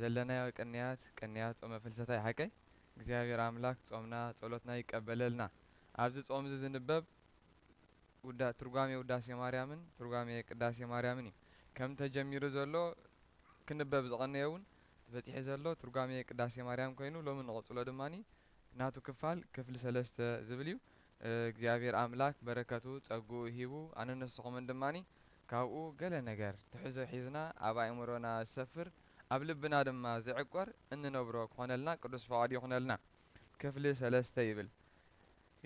ዘለናዮ ቅንያት ቅንያት ጾመ ፍልሰታ ይሓቀይ እግዚኣብሔር ኣምላክ ጾምና ጸሎትና ይቀበለልና ኣብዚ ጾምዚ ዝንበብ ውዳ ትርጓሜ ውዳሴ ማርያምን ትርጓሜ ቅዳሴ ማርያምን እዩ ከም ተጀሚሩ ዘሎ ክንበብ ዝቀነየ እውን በጺሒ ዘሎ ትርጓሜ ቅዳሴ ማርያም ኮይኑ ሎሚ ንቅጽሎ ድማ ናቱ ክፋል ክፍሊ ሰለስተ ዝብል እዩ እግዚኣብሔር ኣምላክ በረከቱ ጸግኡ ሂቡ ኣነ ንስኩምን ድማ ካብኡ ገለ ነገር ትሕዞ ሒዝና ኣብ ኣእምሮና ዝሰፍር ኣብ ልብና ድማ ዝዕቆር እንነብሮ ክኾነልና ቅዱስ ፍቓዱ ይኹነልና። ክፍሊ ሰለስተ ይብል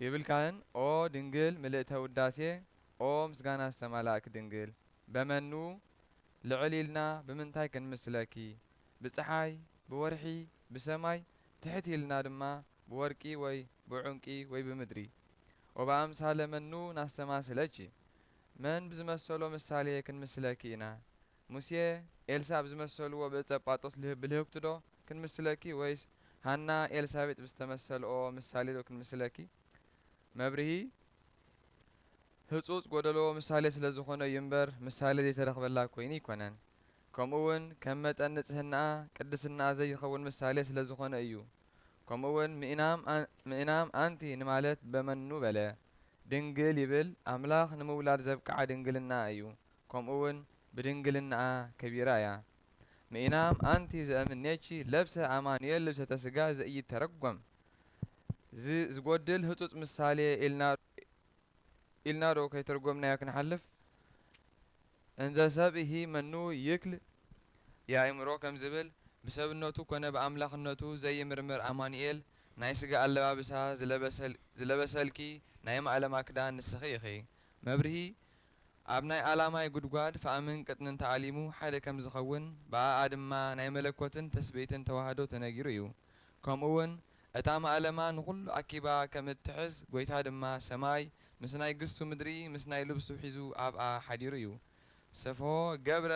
ይብል ካህን ኦ ድንግል ምልእተ ውዳሴ ኦ ምስጋና ዝተማላእኪ ድንግል በመኑ ልዕል ኢልና ብምንታይ ክንምስለኪ ብጸሓይ ብወርሒ ብሰማይ ትሕት ኢልና ድማ ብወርቂ ወይ ብዑንቂ ወይ ብምድሪ ወበኣምሳለ መኑ ናስተማስለኪ መን ብዝመሰሎ ምሳሌ ክንምስለኪ ኢና? ሙሴ፣ ኤልሳእ ብዝመሰልዎ ብእጸጳጦስ ልህ ብልህብቲዶ ክንምስለኪ ወይስ ሃና ኤልሳቤጥ ብዝተመሰልኦ ምሳሌዶ ክንምስለኪ? መብርሂ፣ ህጹጽ ጎደሎ ምሳሌ ስለ ዝኾነ እዩ እምበር ምሳሌ ዘይተረኽበላ ኮይኑ ኣይኮነን። ከምኡውን ከም መጠን ንጽህናኣ ቅድስናኣ ዘይኸውን ምሳሌ ስለ ዝኾነ እዩ። ከምኡውን ምኢናም ኣንቲ ንማለት በመኑ በለ ድንግል ይብል ኣምላኽ ንምውላድ ዘብቅዓ ድንግልናኣ እዩ ከምኡውን ብድንግልናኣ ከቢራ እያ ምኢናም ኣንቲ ዘእምኔኪ ለብሰ ኣማኑኤል ልብሰተ ሥጋ ዘኢይተረጐም ዝጐድል ህጹጽ ምሳሌ ኢልና ዶ ከይተርጐምናዮ ክንሓልፍ እንዘ ሰብእሂ መኑ ይክል የእምሮ ከም ዝብል፣ ብሰብነቱ ኮነ ብኣምላኽነቱ ዘይምርምር ኣማኑኤል ናይ ስጋ ኣለባብሳ ዝለበሰልኪ ናይ ማእለማ ክዳን ንስኺ ኢኺ። መብርሂ፣ ኣብ ናይ ኣላማይ ጉድጓድ ፋእምን ቅጥንን ተኣሊሙ ሓደ ከም ዝኸውን፣ ብኣኣ ድማ ናይ መለኮትን ትስብእትን ተዋህዶ ተነጊሩ እዩ። ከምኡውን፣ እታ ማእለማ ንኹሉ ኣኪባ ከም እትሕዝ፣ ጐይታ ድማ ሰማይ ምስ ናይ ግሱ ምድሪ ምስ ናይ ልብሱ ሒዙ ኣብኣ ሓዲሩ እዩ። ሰፍሖ ገብረ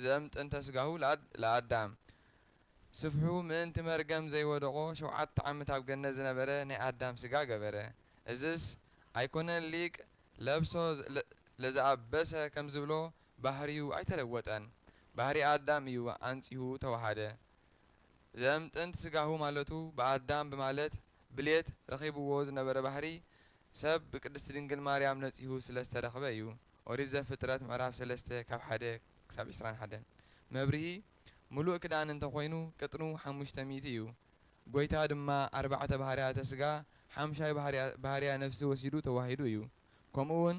ዘእምጥንተ ሥጋሁ ለኣዳም፣ ስፍሑ ምእንቲ መርገም ዘይወደቖ ሸውዓተ ዓመት ኣብ ገነት ዝነበረ ናይ ኣዳም ሥጋ ገበረ። እዝስ ኣይኮነን ሊቅ ለብሶ ለዘኣበሰ ከም ዝብሎ ባህርዩ ኣይተለወጠን፣ ባህርይ ኣዳም እዩ ኣንጺሁ ተወሃደ። ዘም ጥንት ስጋሁ ማለቱ ብኣዳም ብማለት ብልየት ረኺብዎ ዝነበረ ባህሪ ሰብ ብቅድስት ድንግል ማርያም ነጺሁ ስለ ዝተረኽበ እዩ ኦሪት ዘፍጥረት ምዕራፍ ሰለስተ ካብ ሓደ ክሳብ ዕስራን ሓደን መብርሂ ምሉእ ክዳን እንተ ኮይኑ ቅጥኑ ሓሙሽተ ሚእቲ እዩ ጎይታ ድማ ኣርባዕተ ባህርያተ ስጋ ሓምሻይ ባህርያ ነፍሲ ወሲዱ ተዋሂዱ እዩ ከምኡ ውን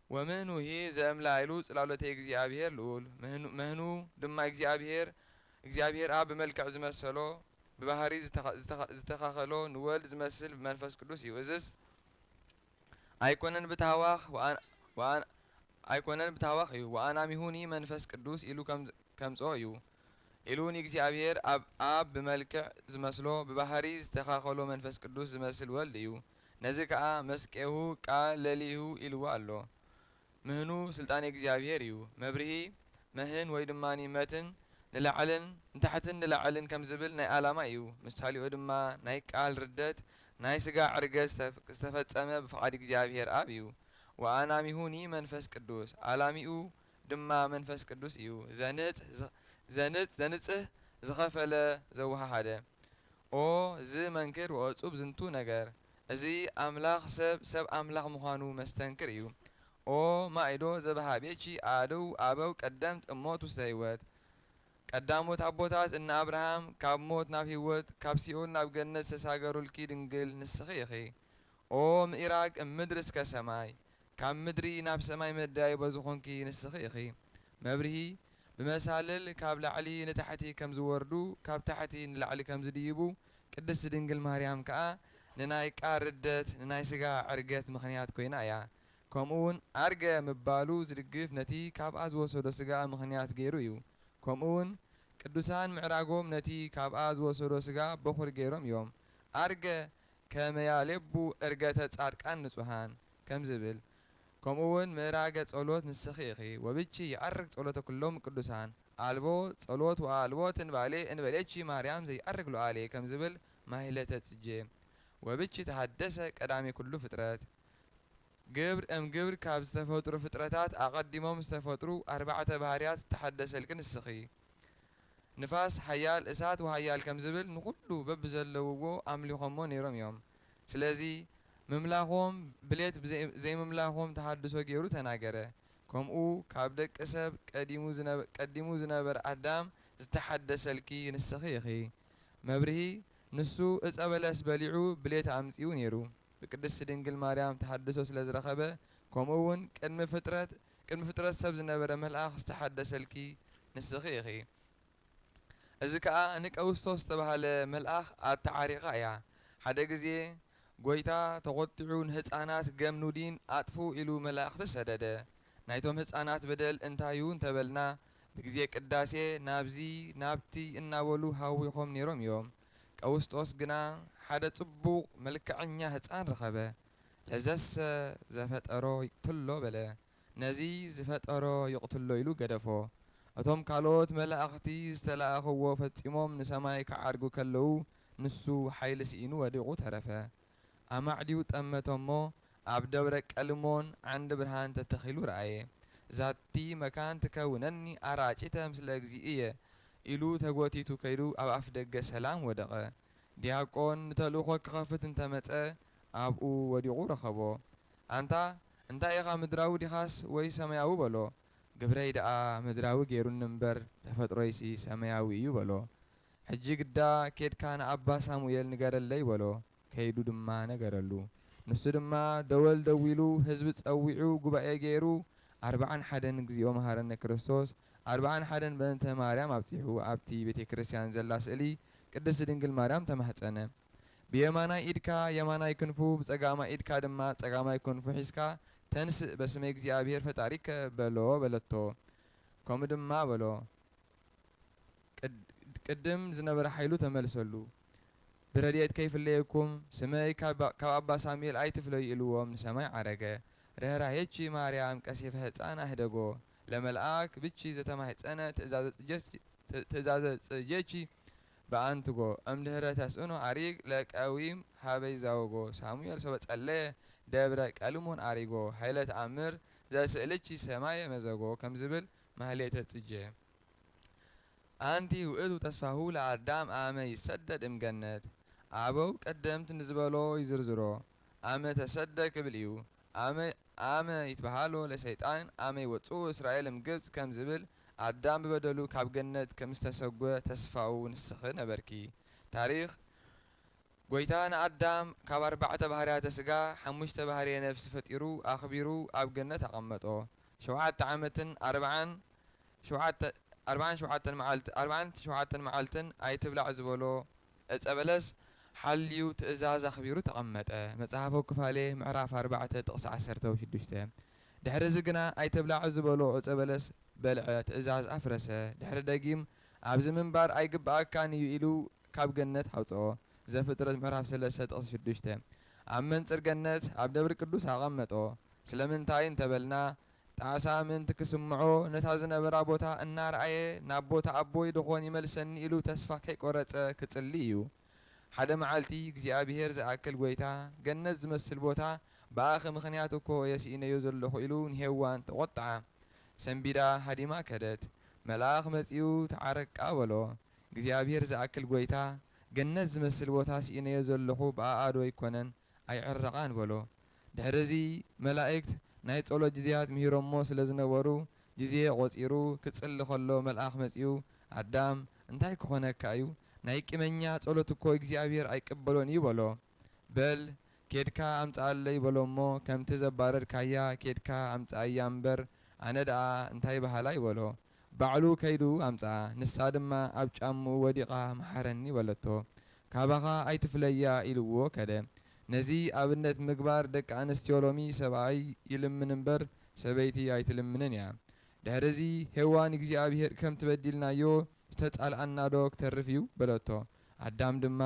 ወምህኑሂ ዘእምላይሉ ጽላሎተ እግዚኣብሔር ልዑል ምህኑ ድማ እግዚኣብሔር እግዚኣብሔር ኣብ ብመልክዕ ዝመሰሎ ብባህሪ ዝተካኸሎ ንወልድ ዝመስል ብመንፈስ ቅዱስ እዩ እዝስ ኣይኮነን ብታህዋኽ ወኣን ኣይኮነን ብታህዋኽ እዩ ወኣናሚሁኒ መንፈስ ቅዱስ ኢሉ ከምጽኦ እዩ ኢሉ ንእግዚኣብሔር ኣብ ኣብ ብመልክዕ ዝመስሎ ብባህሪ ዝተካኸሎ መንፈስ ቅዱስ ዝመስል ወልድ እዩ ነዚ ከኣ መስቄሁ ቃል ለሊሁ ኢልዎ ኣሎ። ምህኑ ስልጣኔ እግዚኣብሔር እዩ። መብርሂ፣ መህን ወይ ድማ መትን ንላዕልን ንታሕትን ንላዕልን ከም ዝብል ናይ ኣላማ እዩ። ምሳሌኡ ድማ ናይ ቃል ርደት ናይ ሥጋ ዕርገት ዝተፈጸመ ብፍቓድ እግዚኣብሔር ኣብ እዩ። ወኣናሚሁኒ መንፈስ ቅዱስ ኣላሚኡ ድማ መንፈስ ቅዱስ እዩ። ዘንጽህ፣ ዘንጽህ፣ ዝኸፈለ፣ ዘወሃሃደ። ኦ ዝ መንክር ወእጹብ ዝንቱ ነገር እዚ ኣምላኽ ሰብ ሰብ ኣምላኽ ምዃኑ መስተንክር እዩ ኦ ማኢዶ ዘበሃቤቺ ኣእድው ኣበው ቀደምት እሞት ውስተ ሕይወት ቀዳሞት ኣቦታት እነ ኣብርሃም ካብ ሞት ናብ ሕይወት ካብ ሲኦል ናብ ገነት ዝተሳገሩልኪ ድንግል ንስኺ ኢኺ ኦ ምኢራግ እምድር እስከ ሰማይ ካብ ምድሪ ናብ ሰማይ መደያይቦ ዝኾንኪ ንስኺ ኢኺ መብርሂ ብመሳልል ካብ ላዕሊ ንታሕቲ ከም ዝወርዱ ካብ ታሕቲ ንላዕሊ ከም ዝድይቡ ቅድስት ድንግል ማርያም ከኣ ንናይ ቃል ርደት ንናይ ስጋ ዕርገት ምኽንያት ኮይና እያ ከምኡ ውን ኣርገ ምባሉ ዝድግፍ ነቲ ካብኣ ዝወሰዶ ስጋ ምኽንያት ገይሩ እዩ ከምኡ ውን ቅዱሳን ምዕራጎም ነቲ ካብኣ ዝወሰዶ ስጋ በኹሪ ገይሮም እዮም ኣርገ ከመያሌቡ ዕርገተ ጻድቃን ንጹሃን ከም ዝብል ከምኡ ውን ምእራገ ጸሎት ንስኺ ኢኺ ወብኪ ይዐርግ ጸሎተ ኩሎም ቅዱሳን ኣልቦ ጸሎት ወኣልቦ ትንባሌ እንበሌኪ ማርያም ዘይዐርግ ሉዓሌ ከም ዝብል ማኅሌተ ጽጌ ወብኪ ተሐደሰ ቀዳሜ ኩሉ ፍጥረት ግብር እም ግብር ካብ ዝተፈጥሩ ፍጥረታት ኣቐዲሞም ዝተፈጥሩ ኣርባዕተ ባህርያት ዝተሐደሰልኪ ንስኺ ንፋስ ኃያል እሳት ወኃያል ከም ዝብል ንኹሉ በብዘለውዎ ኣምሊኾሞ ነይሮም እዮም። ስለዚ ምምላኾም ብሌት ብዘይ ዘይምምላኾም ተሃድሶ ገይሩ ተናገረ። ከምኡ ካብ ደቂ ሰብ ቀዲሙ ዝነበ ቀዲሙ ዝነበረ ኣዳም ዝተሓደሰልኪ ንስኺ ኢኺ። መብርሂ፣ ንሱ ዕፀ በለስ በሊዑ ብሌት ኣምፂኡ ነይሩ። ብቅድስቲ ድንግል ማርያም ተሃድሶ ስለ ዝረኸበ ከምኡ እውን ቅድሚ ፍጥረት ቅድሚ ፍጥረት ሰብ ዝነበረ መልኣኽ ዝተሓደሰልኪ ንስኺ ኢኺ። እዚ ከኣ ንቀውስጦስ ዝተባህለ መልኣኽ ኣተዓሪቓ እያ። ሓደ ግዜ ጎይታ ተቆጢዑ ንህጻናት ገም ኑዲን ኣጥፉ ኢሉ መላእኽቲ ሰደደ። ናይቶም ህጻናት በደል እንታዩ እንተበልና ብግዜ ቅዳሴ ናብዚ ናብቲ እናበሉ ሃዊኾም ኔሮም እዮም። ቀውስጦስ ግና ሓደ ጽቡቕ መልከዐኛ ህጻን ረኸበ። ለዘሰ ዘፈጠሮ ይቅትሎ በለ። ነዚ ዝፈጠሮ ይቕትሎ ኢሉ ገደፎ። እቶም ካልኦት መላእኽቲ ዝተላእኽዎ ፈጺሞም ንሰማይ ክዓርጉ ከለዉ ንሱ ሓይሊ ስኢኑ ወዲቑ ተረፈ። ኣማዕድዩ ጠመቶ እሞ ኣብ ደብረ ቀልሞን ዓንዲ ብርሃን ተተኺሉ ረኣየ። ዛቲ መካን ትከውነኒ ኣራጭተ ምስለ እግዚእየ ኢሉ ተጎቲቱ ከይዱ ኣብ ኣፍደገ ሰላም ወደቐ። ዲያቆን ንተልእኾ ክኸፍት እንተመጸ ኣብኡ ወዲቑ ረኸቦ። ኣንታ እንታይ ኢኻ ምድራዊ ዲኻስ ወይ ሰማያዊ በሎ። ግብረይ ደኣ ምድራዊ ገይሩኒ እምበር ተፈጥሮይሲ ሰማያዊ እዩ በሎ። ሕጂ ግዳ ኬድካ ንኣባ ሳሙኤል ንገረለይ በሎ። ከይዱ ድማ ነገረሉ። ንሱ ድማ ደወል ደዊሉ ህዝቢ ጸዊዑ ጉባኤ ገይሩ ኣርብዓን ሓደን እግዚኦ መሃረነ ክርስቶስ ኣርብዓን ሓደን በእንተ ማርያም ኣብጺሑ ኣብቲ ቤተክርስትያን ዘላ ስእሊ ቅድስት ድንግል ማርያም ተማህጸነ። ብየማናይ ኢድካ የማናይ ክንፉ ብጸጋማይ ኢድካ ድማ ጸጋማይ ክንፉ ሒዝካ ተንስእ በስመ እግዚኣብሔር ፈጣሪከ በሎ በለቶ ከምኡ ድማ በሎ ቅድም ዝነበረ ሓይሉ ተመልሰሉ ብረድኤት ከይፍለየኩም ስመይ ካብ ኣባ ሳሙኤል ኣይትፍለዩ ኢልዎም ንሰማይ ዓረገ ርህራሄቺ ማርያም ቀሲፈ ህፃን ኣህደጎ ለመልኣክ ብቺ ዘተማህፀነ ትእዛዘ ፅጀቺ በኣንትጎ እምድህረ ተስእኖ ኣሪግ ለቀዊም ሀበይ ዛወጎ ሳሙኤል ሶበ ጸለየ ደብረ ቀልሞን ኣሪጎ ሀይለ ተኣምር ዘስእልቺ ሰማየ መዘጎ ከም ዝብል ማህሌተ ጽጌ ኣንቲ ውእቱ ተስፋሁ ለኣዳም ኣመ ይሰደድ እም ገነት ኣበው ቀደምት ንዝበሎ ይዝርዝሮ ኣመ ተሰደ ክብል እዩ ኣመ ኣመ ይትበሃሎ ለሰይጣን ኣመ ይወጽኡ እስራኤል እምግብጽ ከም ዝብል ኣዳም ብበደሉ ካብ ገነት ከምዝተሰጐ ተስፋኡ ንስኺ ነበርኪ። ታሪኽ፣ ጐይታ ንኣዳም ካብ ኣርባዕተ ባህርያተ ስጋ ሓሙሽተ ባህርየ ነፍሲ ፈጢሩ ኣኽቢሩ ኣብ ገነት ኣቐመጦ። ሸውዓተ ዓመትን ኣርብዓን ሸውዓተ ኣርብዓን ሸውዓተን መዓልት ኣርብዓን ሸውዓተን መዓልትን ኣይትብላዕ ዝበሎ ዕፀ በለስ ሓልዩ ትእዛዝ ኣኽቢሩ ተቐመጠ፣ መፅሓፈ ኩፋሌ ምዕራፍ ኣርባዕተ ጥቕሲ ዓሰርተው ሽዱሽተ። ድሕሪ እዚ ግና ኣይትብላዕ ዝበሎ ዕፀ በለስ በልዐ፣ ትእዛዝ ኣፍረሰ፣ ድሕሪ ደጊም ኣብዚ ምንባር ኣይግብኣካን እዩ ኢሉ ካብ ገነት ኣውፀኦ፣ ዘፍጥረት ምዕራፍ ሰለስተ ጥቕሲ ሽዱሽተ። ኣብ መንፅር ገነት ኣብ ደብር ቅዱስ ኣቐመጦ፣ ስለምንታይ እንተበልና ጣሳ ምእንቲ ክስምዖ፣ ነታ ዝነበራ ቦታ እናረኣየ ናብ ቦታ ኣቦይ ደኾን ይመልሰኒ ኢሉ ተስፋ ከይቆረጸ ክጽሊ እዩ። ሓደ መዓልቲ እግዚኣብሄር ዝኣክል ጎይታ፣ ገነት ዝመስል ቦታ ብኣኺ ምኽንያት እኮ እየ ስኢነዮ ዘለኹ ኢሉ ንሄዋን ተቖጥዓ። ሰንቢዳ ሃዲማ ከደት። መልኣኽ መጺኡ ተዓረቃ በሎ። እግዚኣብሄር ዝኣክል ጎይታ፣ ገነት ዝመስል ቦታ ስኢነዮ ዘለኹ ብኣኣዶ ኣይኮነን ኣይዕረቓን በሎ። ድሕርዚ መላእክት ናይ ጸሎት ጊዜያት ምሂሮሞ ስለ ዝነበሩ፣ ጊዜ ቖጺሩ ክጽሊ ከሎ መልኣኽ መጺኡ ኣዳም እንታይ ክኾነካ እዩ? ናይ ቂመኛ ጸሎት እኮ እግዚኣብሔር ኣይቅበሎን እዩ በሎ። በል ኬድካ ኣምጽኣለይ በሎ'ሞ ከምቲ ዘባረርካያ ኬድካ ኣምጽኣያ እምበር ኣነ ደኣ እንታይ በሃላይ በሎ። ባዕሉ ከይዱ ኣምጽኣ ንሳ ድማ ኣብ ጫምኡ ወዲቓ መሓረኒ በለቶ ካባኻ ኣይትፍለያ ኢልዎ ከደ ነዚ ኣብነት ምግባር ደቂ ኣንስትዮ ሎሚ ሰብኣይ ይልምን እምበር ሰበይቲ ኣይትልምንን እያ ድሕሪ እዚ ሄዋን እግዚኣብሄር ከምቲ በዲልናዮ ዝተጻልኣና ዶ ክተርፍ እዩ በለቶ ኣዳም ድማ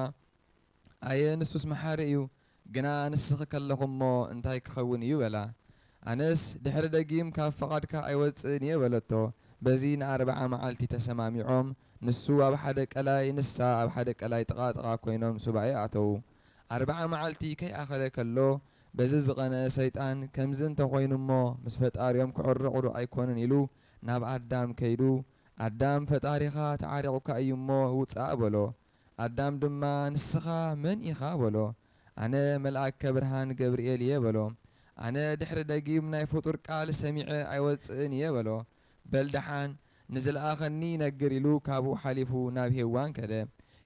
ኣየ ንሱስ መሓሪ እዩ፣ ግና ንስኺ ከለኹ'ሞ እንታይ ክኸውን እዩ? በላ። ኣነስ ድሕሪ ደጊም ካብ ፍቓድካ ኣይወጽእን እየ በለቶ። በዚ ንኣርብዓ መዓልቲ ተሰማሚዖም፣ ንሱ ኣብ ሓደ ቀላይ ንሳ ኣብ ሓደ ቀላይ ጥቓ ጥቓ ኰይኖም ሱባኤ ኣተዉ። ኣርብዓ መዓልቲ ከይኣኸለ ከሎ በዚ ዝቐንኤ ሰይጣን ከምዚ እንተ ዀይኑ እሞ ምስ ፈጣሪኦም ክዕረቑ'ዶ ኣይኰኑን ኢሉ ናብ ኣዳም ከይዱ ኣዳም ፈጣሪኻ ተዓሪቑካ እዩ እሞ ውጻእ በሎ። ኣዳም ድማ ንስኻ መን ኢኻ በሎ። ኣነ መልኣከ ብርሃን ገብርኤል እየ በሎ። ኣነ ድሕሪ ደጊም ናይ ፍጡር ቃል ሰሚዐ ኣይወጽእን እየ በሎ። በል ደሓን ንዝለኣኸኒ ይነግር ኢሉ ካብኡ ሓሊፉ ናብ ሄዋን ከደ።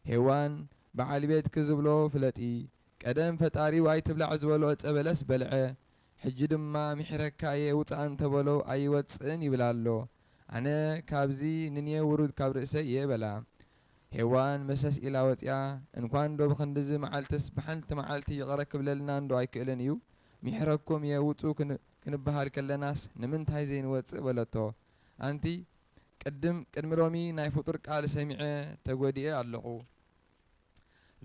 ሄዋን በዓል ቤትኪ ዝብሎ ፍለጢ። ቀደም ፈጣሪኡ ኣይትብላዕ ዝበሎ ዕጸ በለስ በልዐ። ሕጂ ድማ ምሒረካ እየ ውጻእ እንተበሎ ኣይወጽእን ይብል ኣሎ። ኣነ ካብዚ ንኔ ውሩድ ካብ ርእሰይ እየ በላ። ሄዋን መሰስ ኢላ ወጺኣ እንኳን ዶ ብክንድዚ መዓልትስ ብሓንቲ መዓልቲ ይቅረ ክብለልና እንዶ ኣይክእልን እዩ ሚሕረኩም እየ ውጹ ክንበሃል ከለናስ ንምንታይ ዘይንወጽእ በለቶ ኣንቲ ቅድም ቅድሚ ሎሚ ናይ ፍጡር ቃል ሰሚዐ ተጎዲኤ ኣለኩ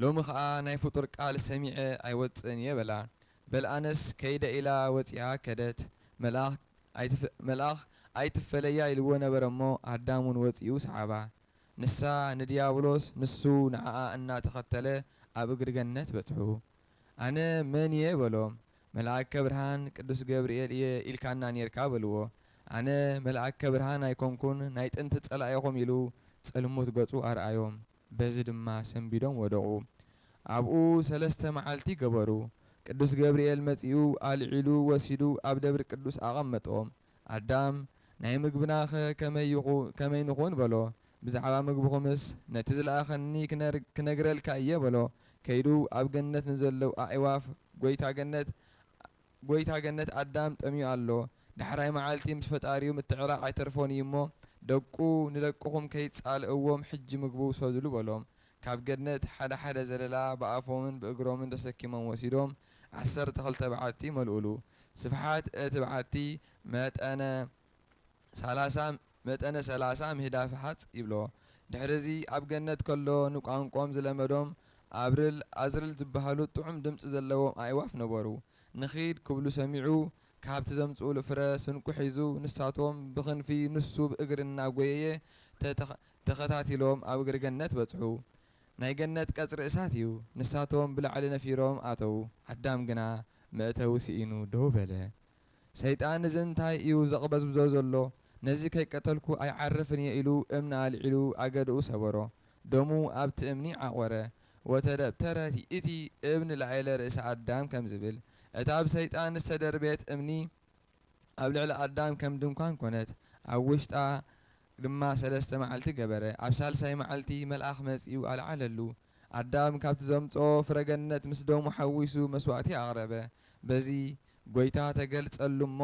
ሎሚ ከኣ ናይ ፍጡር ቃል ሰሚዐ ኣይወጽእን እየ በላ በል ኣነስ ከይደ ኢላ ወጺኣ ከደት መልኣክ ኣይትፈለያ ኢልዎ ነበረ እሞ ኣዳም ውን ወጺኡ ሰዓባ። ንሳ ንድያብሎስ ንሱ ንዓኣ እና ተኸተለ ኣብ እግሪ ገነት በጽሑ። ኣነ መን እየ በሎም። መልኣከ ብርሃን ቅዱስ ገብርኤል እየ ኢልካና ኔርካ በልዎ። ኣነ መልኣከ ብርሃን ኣይኮንኩን ናይ ጥንቲ ጸላኢኹም ኢሉ ጽልሙት ገጹ ኣርኣዮም። በዚ ድማ ሰንቢዶም ወደቑ። ኣብኡ ሰለስተ መዓልቲ ገበሩ። ቅዱስ ገብርኤል መጺኡ ኣልዒሉ ወሲዱ ኣብ ደብሪ ቅዱስ ኣቐመጦም። ኣዳም፣ ናይ ምግብናኸ ከመይ ንኹን? በሎ። ብዛዕባ ምግብኹምስ፣ ነቲ ዝለኣኸኒ ክነግረልካ እየ፣ በሎ። ከይዱ ኣብ ገነት ንዘለዉ ኣዕዋፍ፣ ጐይታ ገነት፣ ጐይታ ገነት፣ ኣዳም ጠምዩ ኣሎ፣ ዳሕራይ መዓልቲ ምስ ፈጣሪኡ ምትዕራቕ ኣይተርፎን እዩ እሞ፣ ደቁ ንደቅኹም ከይትጻልእዎም ሕጂ ምግቡ ውሰዱሉ፣ በሎም። ካብ ገነት ሓደ ሓደ ዘለላ ብኣፎምን ብእግሮምን ተሰኪሞም ወሲዶም ዓሰርተ ክልተ በዓቲ መልኡሉ። ስፍሓት እቲ በዓቲ መጠነ ሰላሳ መጠነ ሰላሳ ምህዳፍ ሃጽ ይብሎ። ድሕሪዚ ኣብ ገነት ከሎ ንቋንቆኦም ዝለመዶም ኣብርል ኣዝርል ዝበሃሉ ጥዑም ድምጺ ዘለዎም ኣእዋፍ ነበሩ። ንኺድ ክብሉ ሰሚዑ ካብቲ ዘምጽኡሉ ፍረ ስንቁ ሒዙ ንሳቶም ብኽንፊ ንሱ ብእግሪ እናጎየየ ተኸታቲሎም ኣብ እግሪ ገነት በጽሑ። ናይ ገነት ቀጽሪ እሳት እዩ። ንሳቶም ብላዕሊ ነፊሮም ኣተዉ፣ ኣዳም ግና መእተዊ ስኢኑ ደው በለ። ሰይጣን እዚ እንታይ እዩ ዘቕበዝብዞ ዘሎ፣ ነዚ ከይቀተልኩ ኣይዓርፍን እየ ኢሉ እምኒ ኣልዒሉ ኣገደኡ ሰበሮ። ደሙ ኣብቲ እምኒ ዓቖረ። ወተደብተረ ይእቲ እብን ላእለ ርእሰ ኣዳም ከም ዝብል፣ እታ ብሰይጣን ዝተደርበየት እምኒ፣ ኣብ ልዕሊ ኣዳም ከም ድንኳን ኮነት፣ ኣብ ውሽጣ ድማ ሰለስተ መዓልቲ ገበረ። ኣብ ሳልሳይ መዓልቲ መልኣኽ መጺኡ ኣልዓለሉ። ኣዳም ካብቲ ዘምጽኦ ፍረ ገነት ምስ ደሙ ሓዊሱ መስዋእቲ ኣቕረበ። በዚ ጐይታ ተገልጸሉ እሞ፣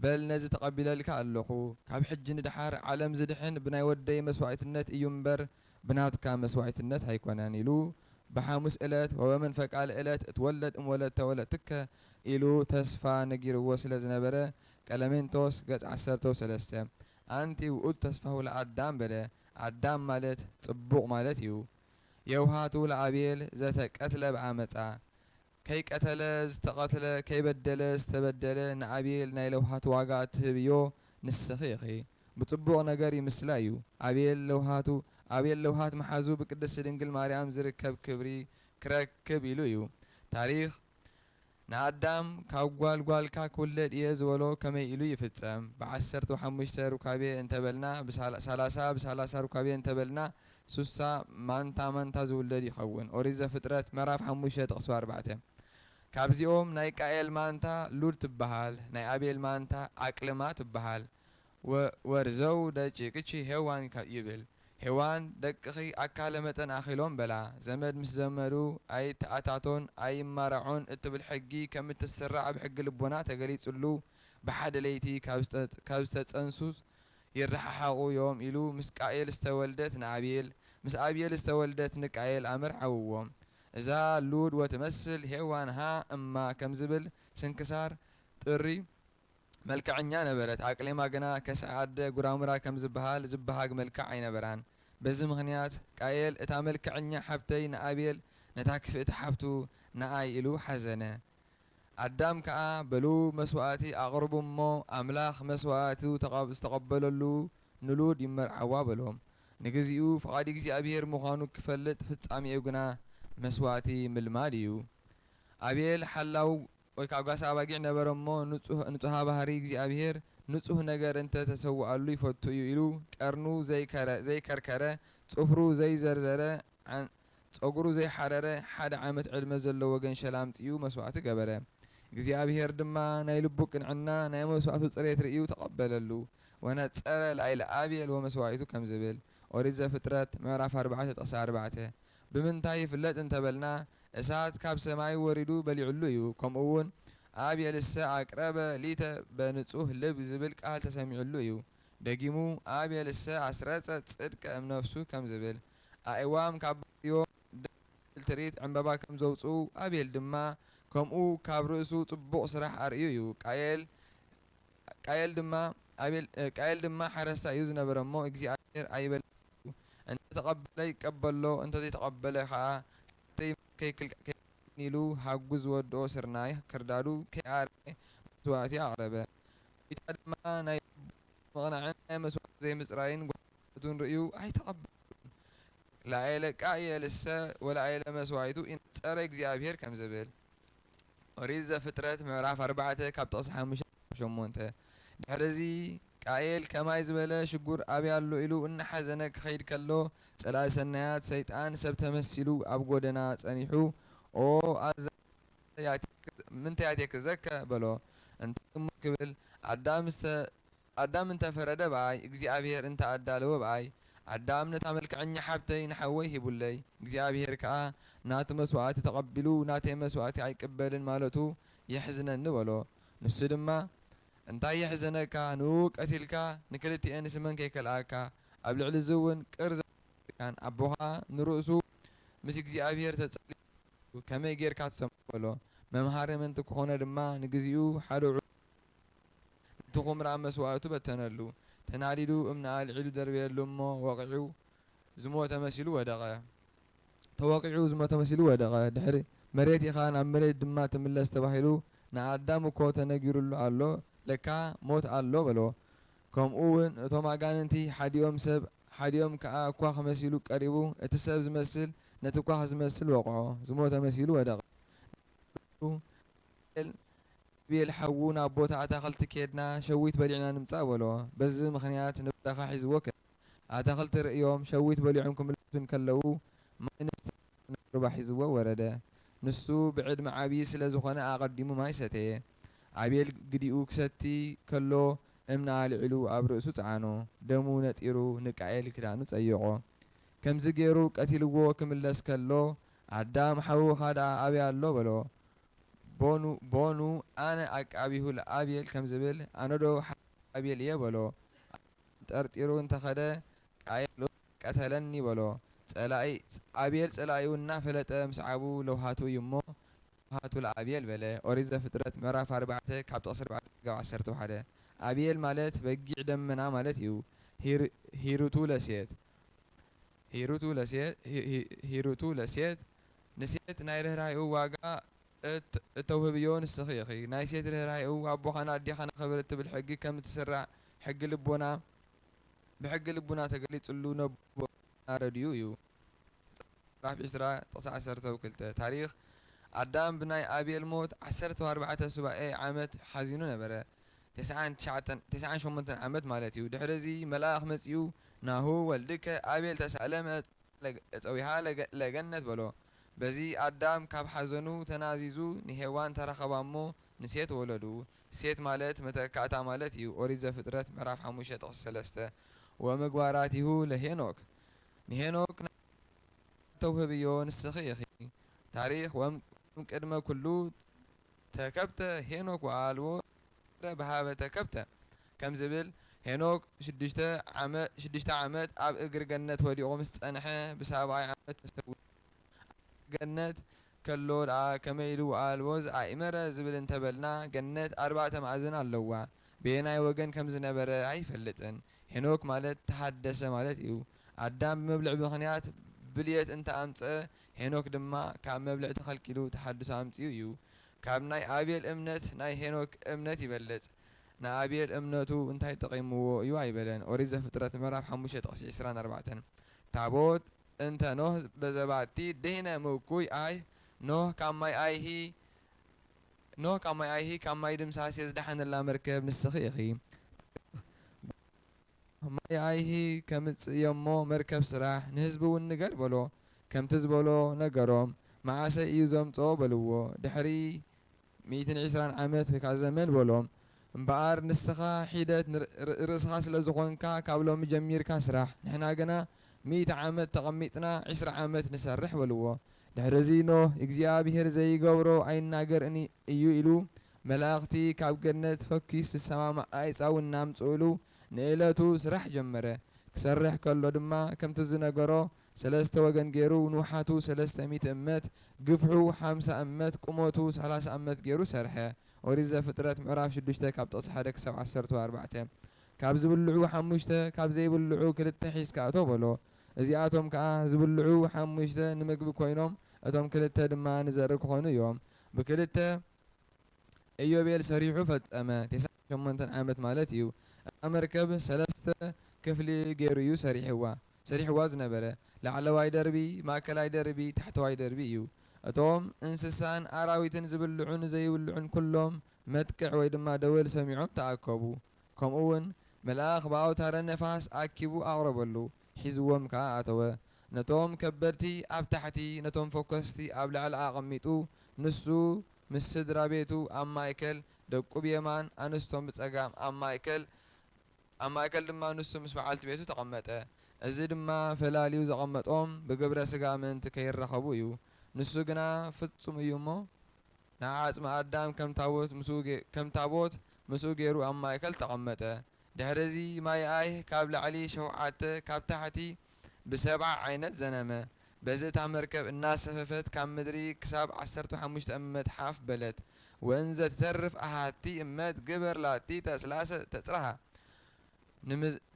በል ነዚ ተቐቢለልካ ኣሎኹ፣ ካብ ሕጂ ንደሓር ዓለም ዝድሕን ብናይ ወደይ መስዋእትነት እዩ እምበር፣ ብናትካ መስዋኢትነት ኣይኮነን ኢሉ ብሓሙስ እለት ወበመንፈቃ ልእለት እትወለድ እም ወለተ ወለትከ ኢሉ ተስፋ ነጊርዎ ስለ ዝነበረ ቀለሜንቶስ ገጽ ዓሰርተው ሰለስተ ኣንቲ ውእቱ ተስፋሁ ለኣዳም በለ ኣዳም ማለት ጽቡቕ ማለት እዩ የውሃቱ ለኣቤል ዘተ ቀትለ ብዓመጻ ከይቀተለ ዝተቐትለ ከይበደለ ዝተበደለ ንኣቤል ናይ ለውሃት ዋጋ እትህብዮ ንስኺ ኢኺ ብጽቡቕ ነገር ይምስላ እዩ ኣቤል ለውሃቱ ኣቤል ለውሃት ምሓዙ ብቅድስቲ ድንግል ማርያም ዝርከብ ክብሪ ክረክብ ኢሉ እዩ ታሪኽ ንኣዳም ካብ ጓል ጓልካ ክውለድ እየ ዝበሎ ከመይ ኢሉ ይፍጸም ብዓሰርተው ሓሙሽተ ሩካቤ እንተበልና ሳላሳ ብሳላሳ ሩካቤ እንተበልና ሱሳ ማንታ ማንታ ዝውለድ ይኸውን። ኦሪት ዘፍጥረት ምዕራፍ ሓሙሽተ ጥቕሲ ኣርባዕተ። ካብዚኦም ናይ ቃኤል ማንታ ሉድ ትበሃል፣ ናይ ኣቤል ማንታ ዓቅልማ ትበሃል። ወ ወርዘው ደጪቅቺ ሄዋን ከ ይብል። ሄዋን ደቅኺ ኣካለ መጠን ኣኺሎም በላ። ዘመድ ምስ ዘመዱ ኣይተኣታቶን ኣይማራዖን እትብል ሕጊ ከም እትስራዕ ኣብ ሕጊ ልቦና ተገሊጽሉ ብሓደ ለይቲ ካብ ዝተጸንሱ ይረሓሓቑ ዮም ኢሉ ምስ ቃኤል ዝተወልደት ንኣብኤል ምስ ኣብኤል ዝተወልደት ንቃኤል ኣመርዓውዎ እዛ ሉድ ወትመስል ሄዋን ሃ እማ ከም ዝብል ስንክሳር ጥሪ መልከዐኛ ነበረት ኣቅሌማ ግና ከስዐ ኣደ ጉራሙራ ከም ዝብሃል ዝብሃግ መልክዕ ኣይነበራን በዚ ምኽንያት ቃኤል እታ መልክዐኛ ሓብተይ ንኣብኤል ነታ ክፍእቲ ሓብቱ ንኣይ ኢሉ ሓዘነ ኣዳም ከኣ በሉ መስዋእቲ ኣቕርቡ እሞ ኣምላኽ መስዋእቲ ዝተቐበለሉ ንሉድ ይመርዓዋ በሎም። ንግዚኡ ፍቓድ እግዚኣብሔር ምዃኑ ክፈልጥ ፍጻሜኡ ግና መስዋእቲ ምልማድ እዩ። ኣቤል ሓላው ወይ ከኣ ጓሳ ኣባጊዕ ነበረ እሞ ንጹሃ ባህሪ እግዚኣብሔር ንጹህ ነገር እንተ ተሰውኣሉ ይፈቱ እዩ ኢሉ ቀርኑ ዘይከርከረ ጽፍሩ ዘይዘርዘረ ጸጕሩ ዘይሓረረ ሓደ ዓመት ዕድመ ዘለዎ ገንሸል ኣምጺኡ መስዋእቲ ገበረ። እግዚኣብሄር ድማ ናይ ልቡ ቅንዕና፣ ናይ መስዋእቱ ጽሬት ርእዩ ተቐበለሉ። ወነጸረ ላዕለ ኣቤል ወመስዋኢቱ ከም ዝብል፣ ኦሪት ዘፍጥረት ምዕራፍ ኣርባዕተ ጥቕሲ ኣርባዕተ፣ ብምንታይ ይፍለጥ እንተ በልና፣ እሳት ካብ ሰማይ ወሪዱ በሊዑሉ እዩ፣ ከምኡውን ኣቤልሰ ኣቅረበ ሊተ በንጹህ ልብ ዝብል ቃል ተሰሚዑሉ እዩ። ደጊሙ ኣቤልሰ ኣስረጸ ጽድቀ እምነፍሱ ከም ዝብል፣ ኣእዋም ካብ ባዕዮ ደስ ዘብል ትርኢት ዕምባባ ከም ዘውጽኡ፣ ኣቤል ድማ ከምኡ ካብ ርእሱ ጽቡቕ ስራሕ ኣርእዩ እዩ። ቃየል ቃየል ድማ ኣቤል ቃየል ድማ ሓረስታይ እዩ ዝነበረ እሞ እግዚኣብሄር ኣይበለጸን እዩ። እንተ ተቐበለ ይቀበሎ እንተ ዘይተቐበለ ከኣ ሓፍተይ ማይ ከይክልክዕ ከይከልክዕኒ ኢሉ ሃጉ ዝወድኦ ስርናይ ክርዳዱ ከይኣረየ መስዋእቲ ኣቕረበ። ጐይታ ድማ ናይ ልቡ ምቕናዕን ናይ መስዋእቲ ዘይምጽራይን ጐይታ እዩ። ሰብነቱን ርእዩ ኣይተቐበሉን። ላኤለ ቃኤል እሰ ወላኤለ መስዋኢቱ ኢነጸረ እግዚኣብሄር ከም ዝብል፣ ኦሪት ዘፍጥረት ምዕራፍ ኣርባዕተ ካብ ጥቕሲ ሓሙሽተ ክሳብ ሸሞንተ። ድሕርዚ፣ ቃኤል ከማይ ዝበለ ሽጉር ኣበይ ኣሎ ኢሉ እናሓዘነ ክኸይድ ከሎ፣ ጸላኢ ሰናያት ሰይጣን ሰብ ተመሲሉ ኣብ ጎደና ጸኒሑ፣ ኦ ኣዛብእ ምንታይ ያእቴክዘከ? በሎ። እንታይ እሞ ክብል፣ ኣዳም ኣዳም እንተ ፈረደ ብኣይ፣ እግዚኣብሄር እንተ ኣዳለወ ብኣይ። ኣዳም ነታ መልክዐኛ ሓብተይ ንሓወይ ሂቡለይ፣ እግዚኣብሄር ከኣ ናቱ መስዋእቲ ተቐቢሉ ናተይ መስዋእቲ ኣይቅበልን ማለቱ የሕዝነኒ በሎ። ንሱ ድማ እንታይ የሕዘነካ ንእኡ ቀቲልካ ንክልቲኤን ስመን ከይከልኣካ ኣብ ልዕሊ እዚ እውን ቅር ዘየብለካን ኣቦ ከኣ ንርእሱ ምስ እግዚኣብሄር ተጸልዩ ከመይ ጌርካ ትሰምዖ በሎ። መምሃሪ ምእንቲ ክኾኖ ድማ ንግዚኡ ሓደ ዑደት እቲ ኵምራ መስዋእቱ በተነሉ። ተናዲዱ እምኒ ኣልዒሉ ደርበየሉ እሞ ወቒዑ ዝሞተ መሲሉ ወደቐ። ተወቒዑ ዝሞተ መሲሉ ወደቐ። ድሕሪ መሬት ኢኻ ናብ መሬት ድማ ትምለስ ተባሂሉ ንኣዳም እኮ ተነጊሩሉ ኣሎ ለካ ሞት ኣሎ በሎ። ከምኡ ውን እቶም ኣጋንንቲ ሓዲኦም ሰብ ሓዲኦም ከኣ ኳኽ መሲሉ ቀሪቡ እቲ ሰብ ዝመስል ነቲ ኳኽ ዝመስል ወቕዖ። ዝሞተ መሲሉ ወደቐ። ንሱ ንዳንኤል ሮቤል ሓዉ ናብ ቦታ ኣታኽልቲ ኬድና ሸዊት በሊዕና ንምጻእ በሎ። በዚ ምኽንያት ንበረኻ ሒዝዎ ከደ። ኣታኽልቲ ርእዮም ሸዊት በሊዖም ክምለሱ እንከለዉ ማይ ንስተ ኢሉ ናብ ሩባ ሒዝዎ ወረደ። ንሱ ብዕድመ ዓቢ ስለ ዝኾነ ኣቐዲሙ ማይ ሰተየ። ኣቤል ግዲኡ ክሰቲ ከሎ እምኒ ኣልዒሉ ኣብ ርእሱ ጸዓኖ። ደሙ ነጢሩ ንቃኤል ክዳኑ ጸይቖ። ከምዚ ጌሩ ቀቲልዎ ክምለስ ከሎ ኣዳም ሓውኻ ደኣ ኣበይ ኣሎ በሎ። ቦኑ ቦኑ ኣነ ኣቃቢሁ ልኣቤል ከም ዝብል ኣነዶ ሓው ኣቤል እየ በሎ ኣቤል ጠርጢሩ እንተኸደ ቃየል እውን ቀተለኒ በሎ ፀላኢ ኣቤል ፀላኢኡ እናፈለጠ ምስዓቡ ለውሃቱ እዩ እሞ ለውሃቱ ልኣቤል በለ ኦሪት ዘፍጥረት ምዕራፍ ኣርባዕተ ካብ ጥቕሲ ኣርባዕተ ክጋብ ዓሰርተ ሓደ ኣቤል ማለት በጊዕ ደመና ማለት እዩ ሂሩቱ ለሴት ሂሩቱ ለሴት ሂሩቱ ለሴት ንሴት ናይ ርህራሄኡ ዋጋ እት እተውህብዮ ንስኺ ኢኺ። ናይ ሴት ርህራሄኡ ኣቦኻን ኣዴኻን ኣኽብር እትብል ሕጊ ከም እትስራዕ ሕጊ ልቦና ብሕጊ ልቡና ተገሊጽሉ ነቦና ረድኡ እዩ። ዘፍጥረት ምዕራፍ ዕስራ ጥቕሲ ዓሰርተው ክልተ ታሪኽ ኣዳም ብናይ ኣቤል ሞት ዓሰርተው ኣርባዕተ ሱባኤ ዓመት ሓዚኑ ነበረ። ተስዓን ትሽዓተን ተስዓን ሸሞንተን ዓመት ማለት እዩ። ድሕርዚ መልኣኽ መጺኡ ናሁ ወልድከ ኣቤል ተሳእለመ ጾረ። ጸዊሃ ለገነት በሎ። በዚ ኣዳም ካብ ሓዘኑ ተናዚዙ ንሄዋን ተራኸባ እሞ ንሴት ወለዱ። ሴት ማለት መተካእታ ማለት እዩ ኦሪት ዘፍጥረት ምዕራፍ ሓሙሽተ ጥቕሲ ሰለስተ። ወምግባራቲሁ ለሄኖክ ንሄኖክ ናይ ምግባር ተውህብዮ ንስኺ ኢኺ። ታሪኽ ወእም ቅድመ ኩሉ ተከብተ ሄኖክ ወኣልቦ ረብሃበ ተከብተ ከም ዝብል፣ ሄኖክ ሽዱሽተ ዓመ ሽዱሽተ ዓመት ኣብ እግሪ ገነት ወዲቑ ምስ ጸንሐ ብሳብኣይ ዓመት ተሰዊኡ። ኣብ እግሪ ገነት ከሎ ደኣ ከመይ ኢሉ ኣልቦ ዝኣኢመረ ዝብል እንተ በልና፣ ገነት ኣርባዕተ ማእዝን ኣለዋ። በየናይ ወገን ከም ዝነበረ ኣይፈልጥን። ሄኖክ ማለት ተሃደሰ ማለት እዩ። ኣዳም ብመብልዕ ምኽንያት ብልየት እንተ ኣምጽኣ ሄኖክ ድማ ካብ መብልዕ ተኸልኪሉ ተሓድሶ ኣምጺኡ እዩ ካብ ናይ ኣቤል እምነት ናይ ሄኖክ እምነት ይበልጽ ንኣቤል እምነቱ እንታይ ጠቒምዎ እዩ ኣይበለን ኦሪት ዘፍጥረት ምዕራፍ ሓሙሽተ ጥቕሲ ዕስራን ኣርባዕተን ታቦት እንተ ኖህ በዘባቲ ድህነ ምእኩይ ኣይ ኖህ ካብ ማይ ኣይሂ ኖህ ካብ ማይ ኣይሂ ካብ ማይ ድምሳሴ ዝደሓነላ መርከብ ንስኺ ኢኺ። ማይ ኣይሂ ከምጽእ እዩ'ሞ መርከብ ስራሕ፣ ንህዝቢ እውን ንገር በሎ። ከምቲ ዝበሎ ነገሮም። መዓሰይ እዩ ዘምጽኦ በልዎ። ድሕሪ ሚእትን ዒስራን ዓመት ወይ ከኣ ዘመን በሎም። እምበኣር ንስኻ ሒደት ርእስኻ ስለ ዝኾንካ ካብ ሎሚ ጀሚርካ ስራሕ፣ ንሕና ግና ሚእቲ ዓመት ተቐሚጥና ዒስራ ዓመት ንሰርሕ በልዎ። ድሕርዚ ኖህ እግዚኣብሄር ዘይገብሮ ኣይናገር እዩ ኢሉ መላእኽቲ ካብ ገነት ፈኲስ ዝሰማማዕ ኣይጻው እናምጽእሉ ንእለቱ ስራሕ ጀመረ ክሰርሕ ከሎ ድማ ከምቲ ዝነገሮ ሰለስተ ወገን ጌሩ ንውሓቱ ሰለስተ ሚእቲ እመት ግፍሑ ሓምሳ እመት ቁመቱ ሰላሳ እመት ጌሩ ሰርሐ ኦሪት ዘፍጥረት ምዕራፍ ሽዱሽተ ካብ ጥቕሲ ሓደ ክሳብ ዓሰርተው ኣርባዕተ ካብ ዝብልዑ ሓሙሽተ ካብ ዘይብልዑ ክልተ ሒዝካ እቶ በሎ እዚኣቶም ከኣ ዝብልዑ ሓሙሽተ ንምግቢ ኮይኖም እቶም ክልተ ድማ ንዘርኢ ክኾኑ እዮም ብክልተ ኢዮቤል ሰሪሑ ፈጸመ፣ ቴስዓን ሸሞንተን ዓመት ማለት እዩ። እታ መርከብ ሰለስተ ክፍሊ ገይሩ እዩ ሰሪሕዋ፣ ሰሪሕዋ ዝነበረ። ላዕለዋይ ደርቢ፣ ማእከላይ ደርቢ፣ ታሕተዋይ ደርቢ እዩ። እቶም እንስሳን ኣራዊትን ዝብልዑን ዘይብልዑን ኩሎም መጥቅዕ ወይ ድማ ደወል ሰሚዖም ተኣከቡ። ከምኡውን መልኣኽ ብኣውታረ ነፋስ ኣኪቡ ኣቕረበሉ፣ ሒዝዎም ከኣ ኣተወ። ነቶም ከበድቲ ኣብ ታሕቲ ነቶም ፈኮስቲ ኣብ ላዕሊ ኣቐሚጡ ንሱ ምስ ስድራ ቤቱ ኣብ ማእከል፣ ደቁ ብየማን ኣንስቶም ብጸጋም ኣብ ማእከል ኣብ ማእከል ድማ ንሱ ምስ በዓልቲ ቤቱ ተቐመጠ። እዚ ድማ ፈላልዩ ዘቐመጦም ብግብረ ስጋ ምእንቲ ከይራኸቡ እዩ። ንሱ ግና ፍጹም እዩ እሞ ንዓጽሚ ኣዳም ከም ታቦት ምስኡ ከም ታቦት ምስኡ ገይሩ ኣብ ማእከል ተቐመጠ። ድሕርዚ ማይኣይህ ካብ ላዕሊ ሸውዓተ ካብ ታሕቲ ብሰብዓ ዓይነት ዘነመ። በዚ እታ መርከብ እናሰፈፈት ካብ ምድሪ ክሳብ ዓሰርተ ሓሙሽተ እመት ሓፍ በለት። ወእንዘ ትተርፍ ኣሃቲ እመት ግበር ላቲ ተስላሰ ተጽርሃ።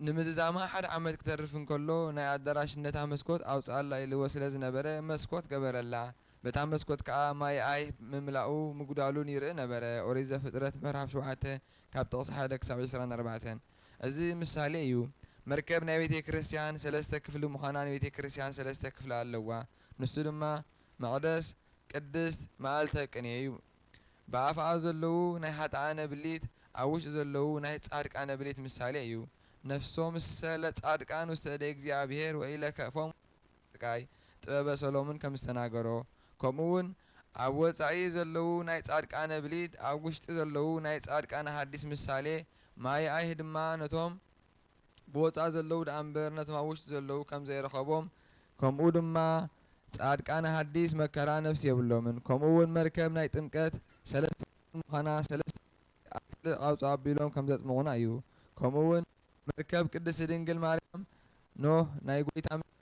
ንምዝዛማ ሓደ ዓመት ክተርፍ እንከሎ ናይ ኣዳራሽነታ መስኮት ኣውጽኣላ ኢልዎ ስለ ዝነበረ መስኮት ገበረላ። በታ መስኮት ከኣ ማይኣይህ ምምላኡ ምጉዳሉን ይርኢ ነበረ። ኦሪት ዘፍጥረት ምዕራፍ ሸውዓተ ካብ ጥቕሲ ሓደ ክሳብ ዕስራን ኣርባዕተን እዚ ምሳሌ እዩ። መርከብ ናይ ቤተ ክርስቲያን ሠለስተ ክፍሊ ምዃና ንቤተ ክርስቲያን ሠለስተ ክፍሊ ኣለዋ ንሱ ድማ መቕደስ፣ ቅድስት፣ መኣልተ ቅኔ እዩ። ብኣፍኣ ዘለዉ ናይ ኃጥኣነ ብሊት ኣብ ውሽጢ ዘለዉ ናይ ጻድቃነ ብሊት ምሳሌ እዩ። ነፍሶምሰ ለጻድቃን ውስተ እደ እግዚኣብሔር ወኢለከፎሙ። ስቃይ ጥበበ ሰሎሙን ከም ዝተናገሮ ከምኡ ውን ኣብ ወጻኢ ዘለዉ ናይ ጻድቃነ ብሊት ኣብ ውሽጢ ዘለዉ ናይ ጻድቃነ ሃዲስ ምሳሌ ማይኣይህ ድማ ነቶም ብወጻኢ ዘለዉ ደኣ እምበር ነቶም ኣብ ውሽጢ ዘለዉ ከም ዘይረኸቦም ከምኡ ድማ ጻድቃነ ሃዲስ መከራ ነፍሲ የብሎምን ከምኡ ውን መርከብ ናይ ጥምቀት ሰለስተ ክፍሊ ምዃና ሰለስተ ኣብ ጽልእ ቓውጾ ኣቢሎም ከም ዘጥምቑና እዩ። ከምኡ ውን መርከብ ቅድስቲ ድንግል ማርያም ኖህ ናይ ጎይታ መርከብ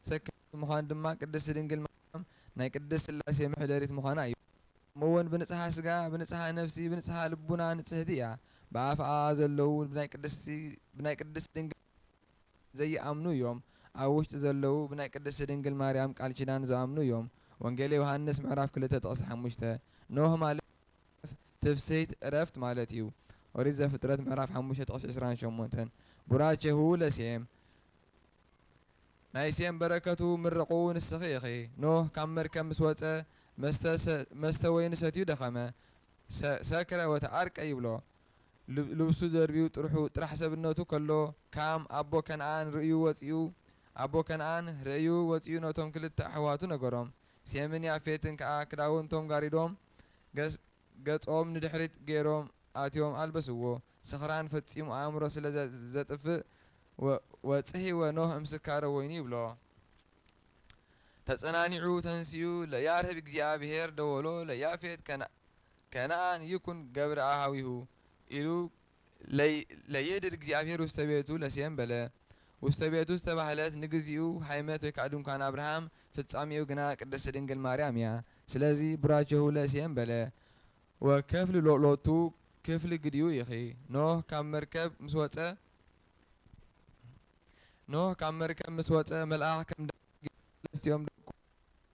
ተሰካሚት ምዃን ድማ ቅድስቲ ድንግል ማርያም ናይ ቅድስት ስላሴ መሕደሪት ምዃና እዩ። ከምኡ ውን ብንጽሃ ስጋ ብንጽሃ ነፍሲ ብንጽሃ ልቡና ንጽህቲ እያ። ብኣፍኣ ዘለዉ ብናይ ቅድስቲ ብናይ ቅድስት ድንግል ማርያም ዘይኣምኑ እዮም። ኣብ ውሽጢ ዘለዉ ብናይ ቅድስቲ ድንግል ማርያም ቃል ኪዳን ዝኣምኑ እዮም። ወንጌለ ዮሃንስ ምዕራፍ ክልተ ጥቕሲ ሓሙሽተ ኖህ ማለት ትፍስሂት ዕረፍት ማለት እዩ ኦሪት ዘፍጥረት ምዕራፍ ሓሙሽተ ጥቕሲ ዕስራን ሸሞንተን ቡራቼ ሁቡ ለሴም ናይ ሴም በረከቱ ምርቑ ንስኺ ኢኺ ኖህ ካብ መርከብ ምስ ወጸ መስተ ወይኒ ሰትዩ ደኸመ ሰክረ ወተዓርቀ ይብሎ ልብሱ ደርብዩ ጥርሑ ጥራሕ ሰብነቱ ከሎ ካም ኣቦ ከነኣን ርእዩ ወጽኡ ኣቦ ከነኣን ርእዩ ወጽኡ ነቶም ክልተ ኣሕዋቱ ነገሮም ሴምን ያፌትን ከኣ ክዳውንቶም ጋሪዶም ገጾም ንድሕሪት ገይሮም ኣትዮም ኣልበስዎ። ስኽራን ፈጺሙ ኣእምሮ ስለ ዘጥፍእ ወጽሒወ ኖህ እምስካረ ወይኑ ይብሎ። ተጸናኒዑ ተንሲኡ ለያርህብ እግዚኣብሔር ደወሎ ለያፌት ከነኣን ይኩን ገብርኣ ኀዊሁ ኢሉ ለይእድድ እግዚኣብሔር ውስተ ቤቱ ለሴም በለ። ውስተ ቤቱ ዝተባህለት ንግዚኡ ሀይመት ወይ ከዓ ድንኳን ኣብርሃም ፍጻሜኡ ግና ቅድስት ድንግል ማርያም እያ። ስለዚ ቡራኬሁ ለሴም በለ። ወከፍል ሎቱ ክፍል ግዲኡ ይኺ። ኖህ ካብ መርከብ ምስ ወጸ ኖህ ካብ መርከብ ምስ ወጸ መልኣኽ ከም ደንጊ ንሰለስቲኦም ደቁ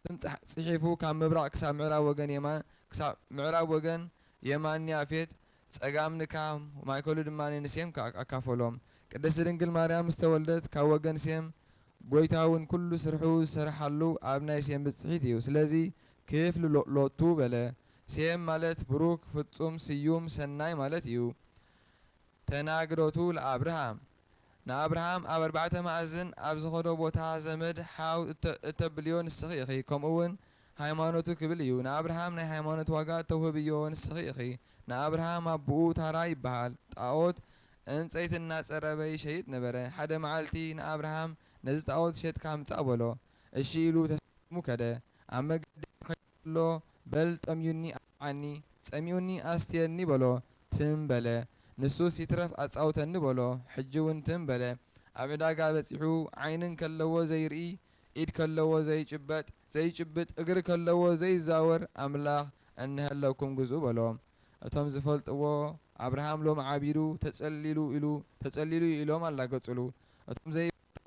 ስም ጺሒፉ ካብ ምብራቕ ክሳብ ምዕራብ ወገን የማን ክሳብ ምዕራብ ወገን የማን ንያፌት፣ ጸጋም ንካም፣ ማእከሉ ድማ ንሴም ኣካፈሎም። ቅድስቲ ድንግል ማርያም ምስ ተወልደት ካብ ወገን ሴም ጐይታ እውን ኵሉ ስርሑ ዝሰርሓሉ ኣብ ናይ ሴም ብጽሒት እዩ። ስለዚ ክፍል ሎቱ በለ። ሴም ማለት ብሩክ፣ ፍጹም፣ ስዩም፣ ሰናይ ማለት እዩ። ተናግሮቱ ለኣብርሃም። ንኣብርሃም ኣብ ኣርባዕተ ማእዝን ኣብ ዝኸዶ ቦታ ዘመድ ሓው እተብልዮ ንስኺ ኢኺ ከምኡውን ሃይማኖቱ ክብል እዩ ንኣብርሃም ናይ ሃይማኖት ዋጋ እተውህብዮ ንስኺ ኢኺ ንኣብርሃም ኣቡኡ ታራ ይብሃል ጣኦት ዕንጸይቲ እናጸረበ ይሸይጥ ነበረ ሓደ መዓልቲ ንኣብርሃም ነዚ ጣኦት ሸጥካ ምጻእ በሎ እሺ ኢሉ ተሰኪሙ ከደ ኣብ መገዲ ከይዱ ከሎ በል ጠምዩኒ ዓኒ ጸሚኡኒ ኣስትየኒ በሎ ትም በለ ንሱስ ይትረፍ ኣጻውተኒ በሎ ሕጂ ውን ትም በለ ኣብ ዕዳጋ በጺሑ ዓይኒ ከለዎ ዘይርኢ ኢድ ከለዎ ዘይጭበጥ ዘይጭብጥ እግሪ ከለዎ ዘይዛወር ኣምላኽ እነሀለኩም ግዝኡ በሎ እቶም ዝፈልጥዎ ኣብርሃም ሎሚ ዓቢዱ ተጸሊሉ ኢሉ ተጸሊሉ ዩ ኢሎም ኣላገጹሉ እቶም ዘይፈልጥዎ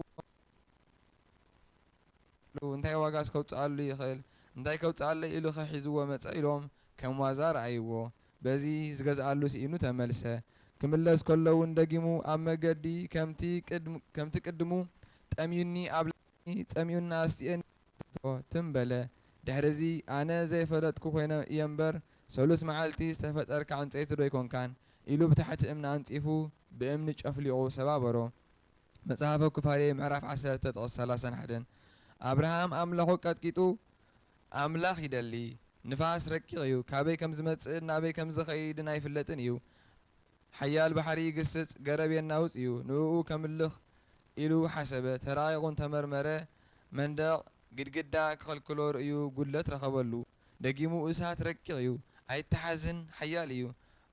ሉ እንታይ ዋጋስ ከውጽኣሉ ይኽእል እንታይ ከውጽኣለይ ኢሉኸ ሒዝዎ መጸ ኢሎም ከም ዋዛ ረኣይዎ በዚ ዝገዝኣሉ ስኢኑ ተመልሰ ክምለስ ከሎ ውን ደጊሙ ኣብ መገዲ ከምቲ ከምቲ ቅድሙ ጠምዩኒ ኣብላዕኒ ጸሚኡኒ ኣስትየኒ ዝሰተቶ ትም በለ ድሕሪዚ ኣነ ዘይፈለጥኩ ኮይነ እየ እምበር ሰሉስ መዓልቲ ዝተፈጠርካ ዕንጸይቲ ዶ ኣይኮንካን ኢሉ ብታሕቲ እምኒ ኣንጺፉ ብእምኒ ጨፍሊቑ ሰባበሮ መጽሐፈ ኩፋሌ ምዕራፍ ዓሰርተ ጥቕስ ሰላሳን ሓደን ኣብርሃም ኣምላኹ ቀጥቂጡ ኣምላኽ ይደሊ ንፋስ ረቂቕ እዩ ካበይ ከም ዝመጽእን ናበይ ከም ዝኸይድን ኣይፍለጥን እዩ ሓያል ባሕሪ ይግስጽ ገረብ የናውጽ እዩ ንእኡ ከምልኽ ኢሉ ሓሰበ ተራቒቑን ተመርመረ መንደቕ ግድግዳ ክኸልክሎ ርእዩ ጉድለት ረኸበሉ ደጊሙ እሳት ረቂቕ እዩ፣ ኣይተሓዝን፣ ሓያል እዩ፣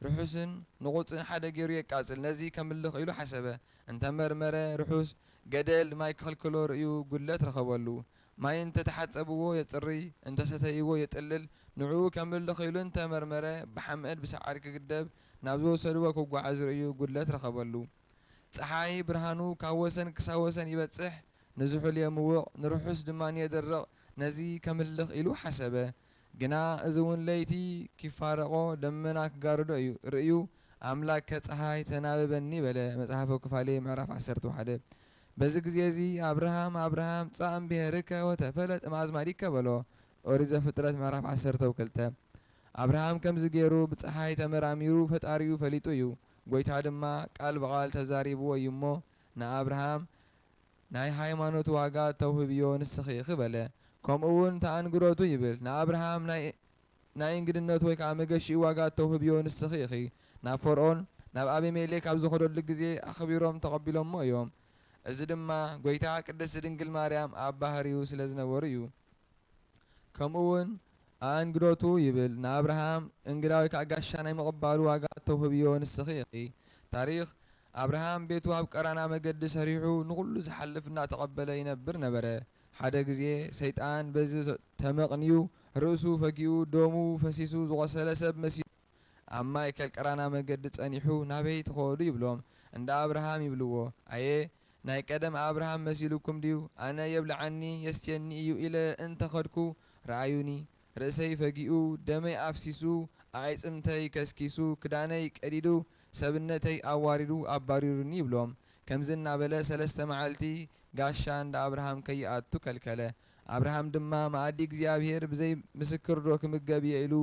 ርሑስን ንቑጽን ሓደ ገይሩ የቃጽል፣ ነዚ ከምልኽ ኢሉ ሓሰበ፣ እንተ መርመረ፣ ርሑስ፣ ገደል ማይ ክኽልክሎ ርእዩ ጉድለት ረኸበሉ፣ ማይ እንተ ተሓጸብዎ የጽርይ፣ እንተ ሰተይዎ የጥልል፣ ንዕኡ ከምልኽ ኢሉ እንተ መርመረ፣ ብሓመድ ብሳዕሪ ክግደብ ናብ ዝወሰድዎ ክጓዓዝ ርእዩ ጉድለት ረኸበሉ፣ ጸሓይ ብርሃኑ ካብ ወሰን ክሳብ ወሰን ይበጽሕ፣ ንዝሑል የምውቕ፣ ንርሑስ ድማ የደርቕ፣ ነዚ ከምልኽ ኢሉ ሓሰበ። ግና እዚውን ለይቲ ኪፋረቖ፣ ደመና ኪጋርዶ እዩ። ርእዩ፣ ኣምላከ ጸሓይ ተናበበኒ በለ፣ መጽሓፈ ኩፋሌ ምዕራፍ ዓሰርተ ሓደ። በዚ ግዜ እዚ፣ ኣብርሃም፣ ኣብርሃም፣ ጻእ እምብሔርከ ወተፈለጥ እምኣዝማዲከ በሎ፣ ኦሪት ዘፍጥረት ምዕራፍ ዓሰርተው ክልተ። ኣብርሃም ከምዚ ገይሩ ብጸሓይ ተመራሚሩ ፈጣሪኡ ፈሊጡ እዩ። ጐይታ ድማ ቃል ብቓል ተዛሪብዎ እዩ እሞ፣ ንኣብርሃም፣ ናይ ሃይማኖት ዋጋ እተውህብዮ ንስኺ ኢኺ በለ። ከምኡውን እቲ ኣንግሮቱ ይብል፣ ንኣብርሃም ናይ ናይ እንግድነቱ ወይ ከኣ መገሽኡ ዋጋ እተውህብዮ ንስኺ ኢኺ። ናብ ፈርኦን፣ ናብ ኣቢሜሌክ ኣብ ዝኸደሉ ግዜ ኣኽቢሮም ተቐቢሎምዎ እዮም። እዚ ድማ ጐይታ ቅድስቲ ድንግል ማርያም ኣብ ባህርዩ ስለ ዝነበሩ እዩ። ከምኡውን ኣእንግዶቱ ይብል ንኣብርሃም እንግዳ ወይ ከኣ ጋሻ ናይ ምቕባሉ ዋጋ እተውህብዮ ንስኺ ኢኺ። ታሪኽ፣ ኣብርሃም ቤቱ ኣብ ቀራና መገዲ ሰሪሑ ንኹሉ ዝሓልፍ እናተቐበለ ይነብር ነበረ። ሓደ ግዜ ሰይጣን በዚ ተመቕንዩ ርእሱ ፈጊኡ ደሙ ፈሲሱ ዝቖሰለ ሰብ መሲሉ። ኣብ ማእከል ቀራና መገዲ ጸኒሑ ናበይ ትኸዱ ይብሎም እንዳ ኣብርሃም ይብልዎ ኣየ ናይ ቀደም ኣብርሃም መሲሉኩም ድዩ ኣነ የብልዓኒ የስትየኒ እዩ ኢለ እንተ ኸድኩ ርኣዩኒ ርእሰይ ፈጊኡ ደመይ ኣፍሲሱ ኣዒጽምተይ ከስኪሱ ክዳነይ ቀዲዱ ሰብነተይ ኣዋሪዱ ኣባሪሩኒ ይብሎም ከምዚ እናበለ ሰለስተ መዓልቲ ጋሻ እንዳ ኣብርሃም ከይኣቱ ከልከለ ኣብርሃም ድማ መኣዲ እግዚኣብሄር ብዘይ ምስክርዶ ክምገብ እየ ኢሉ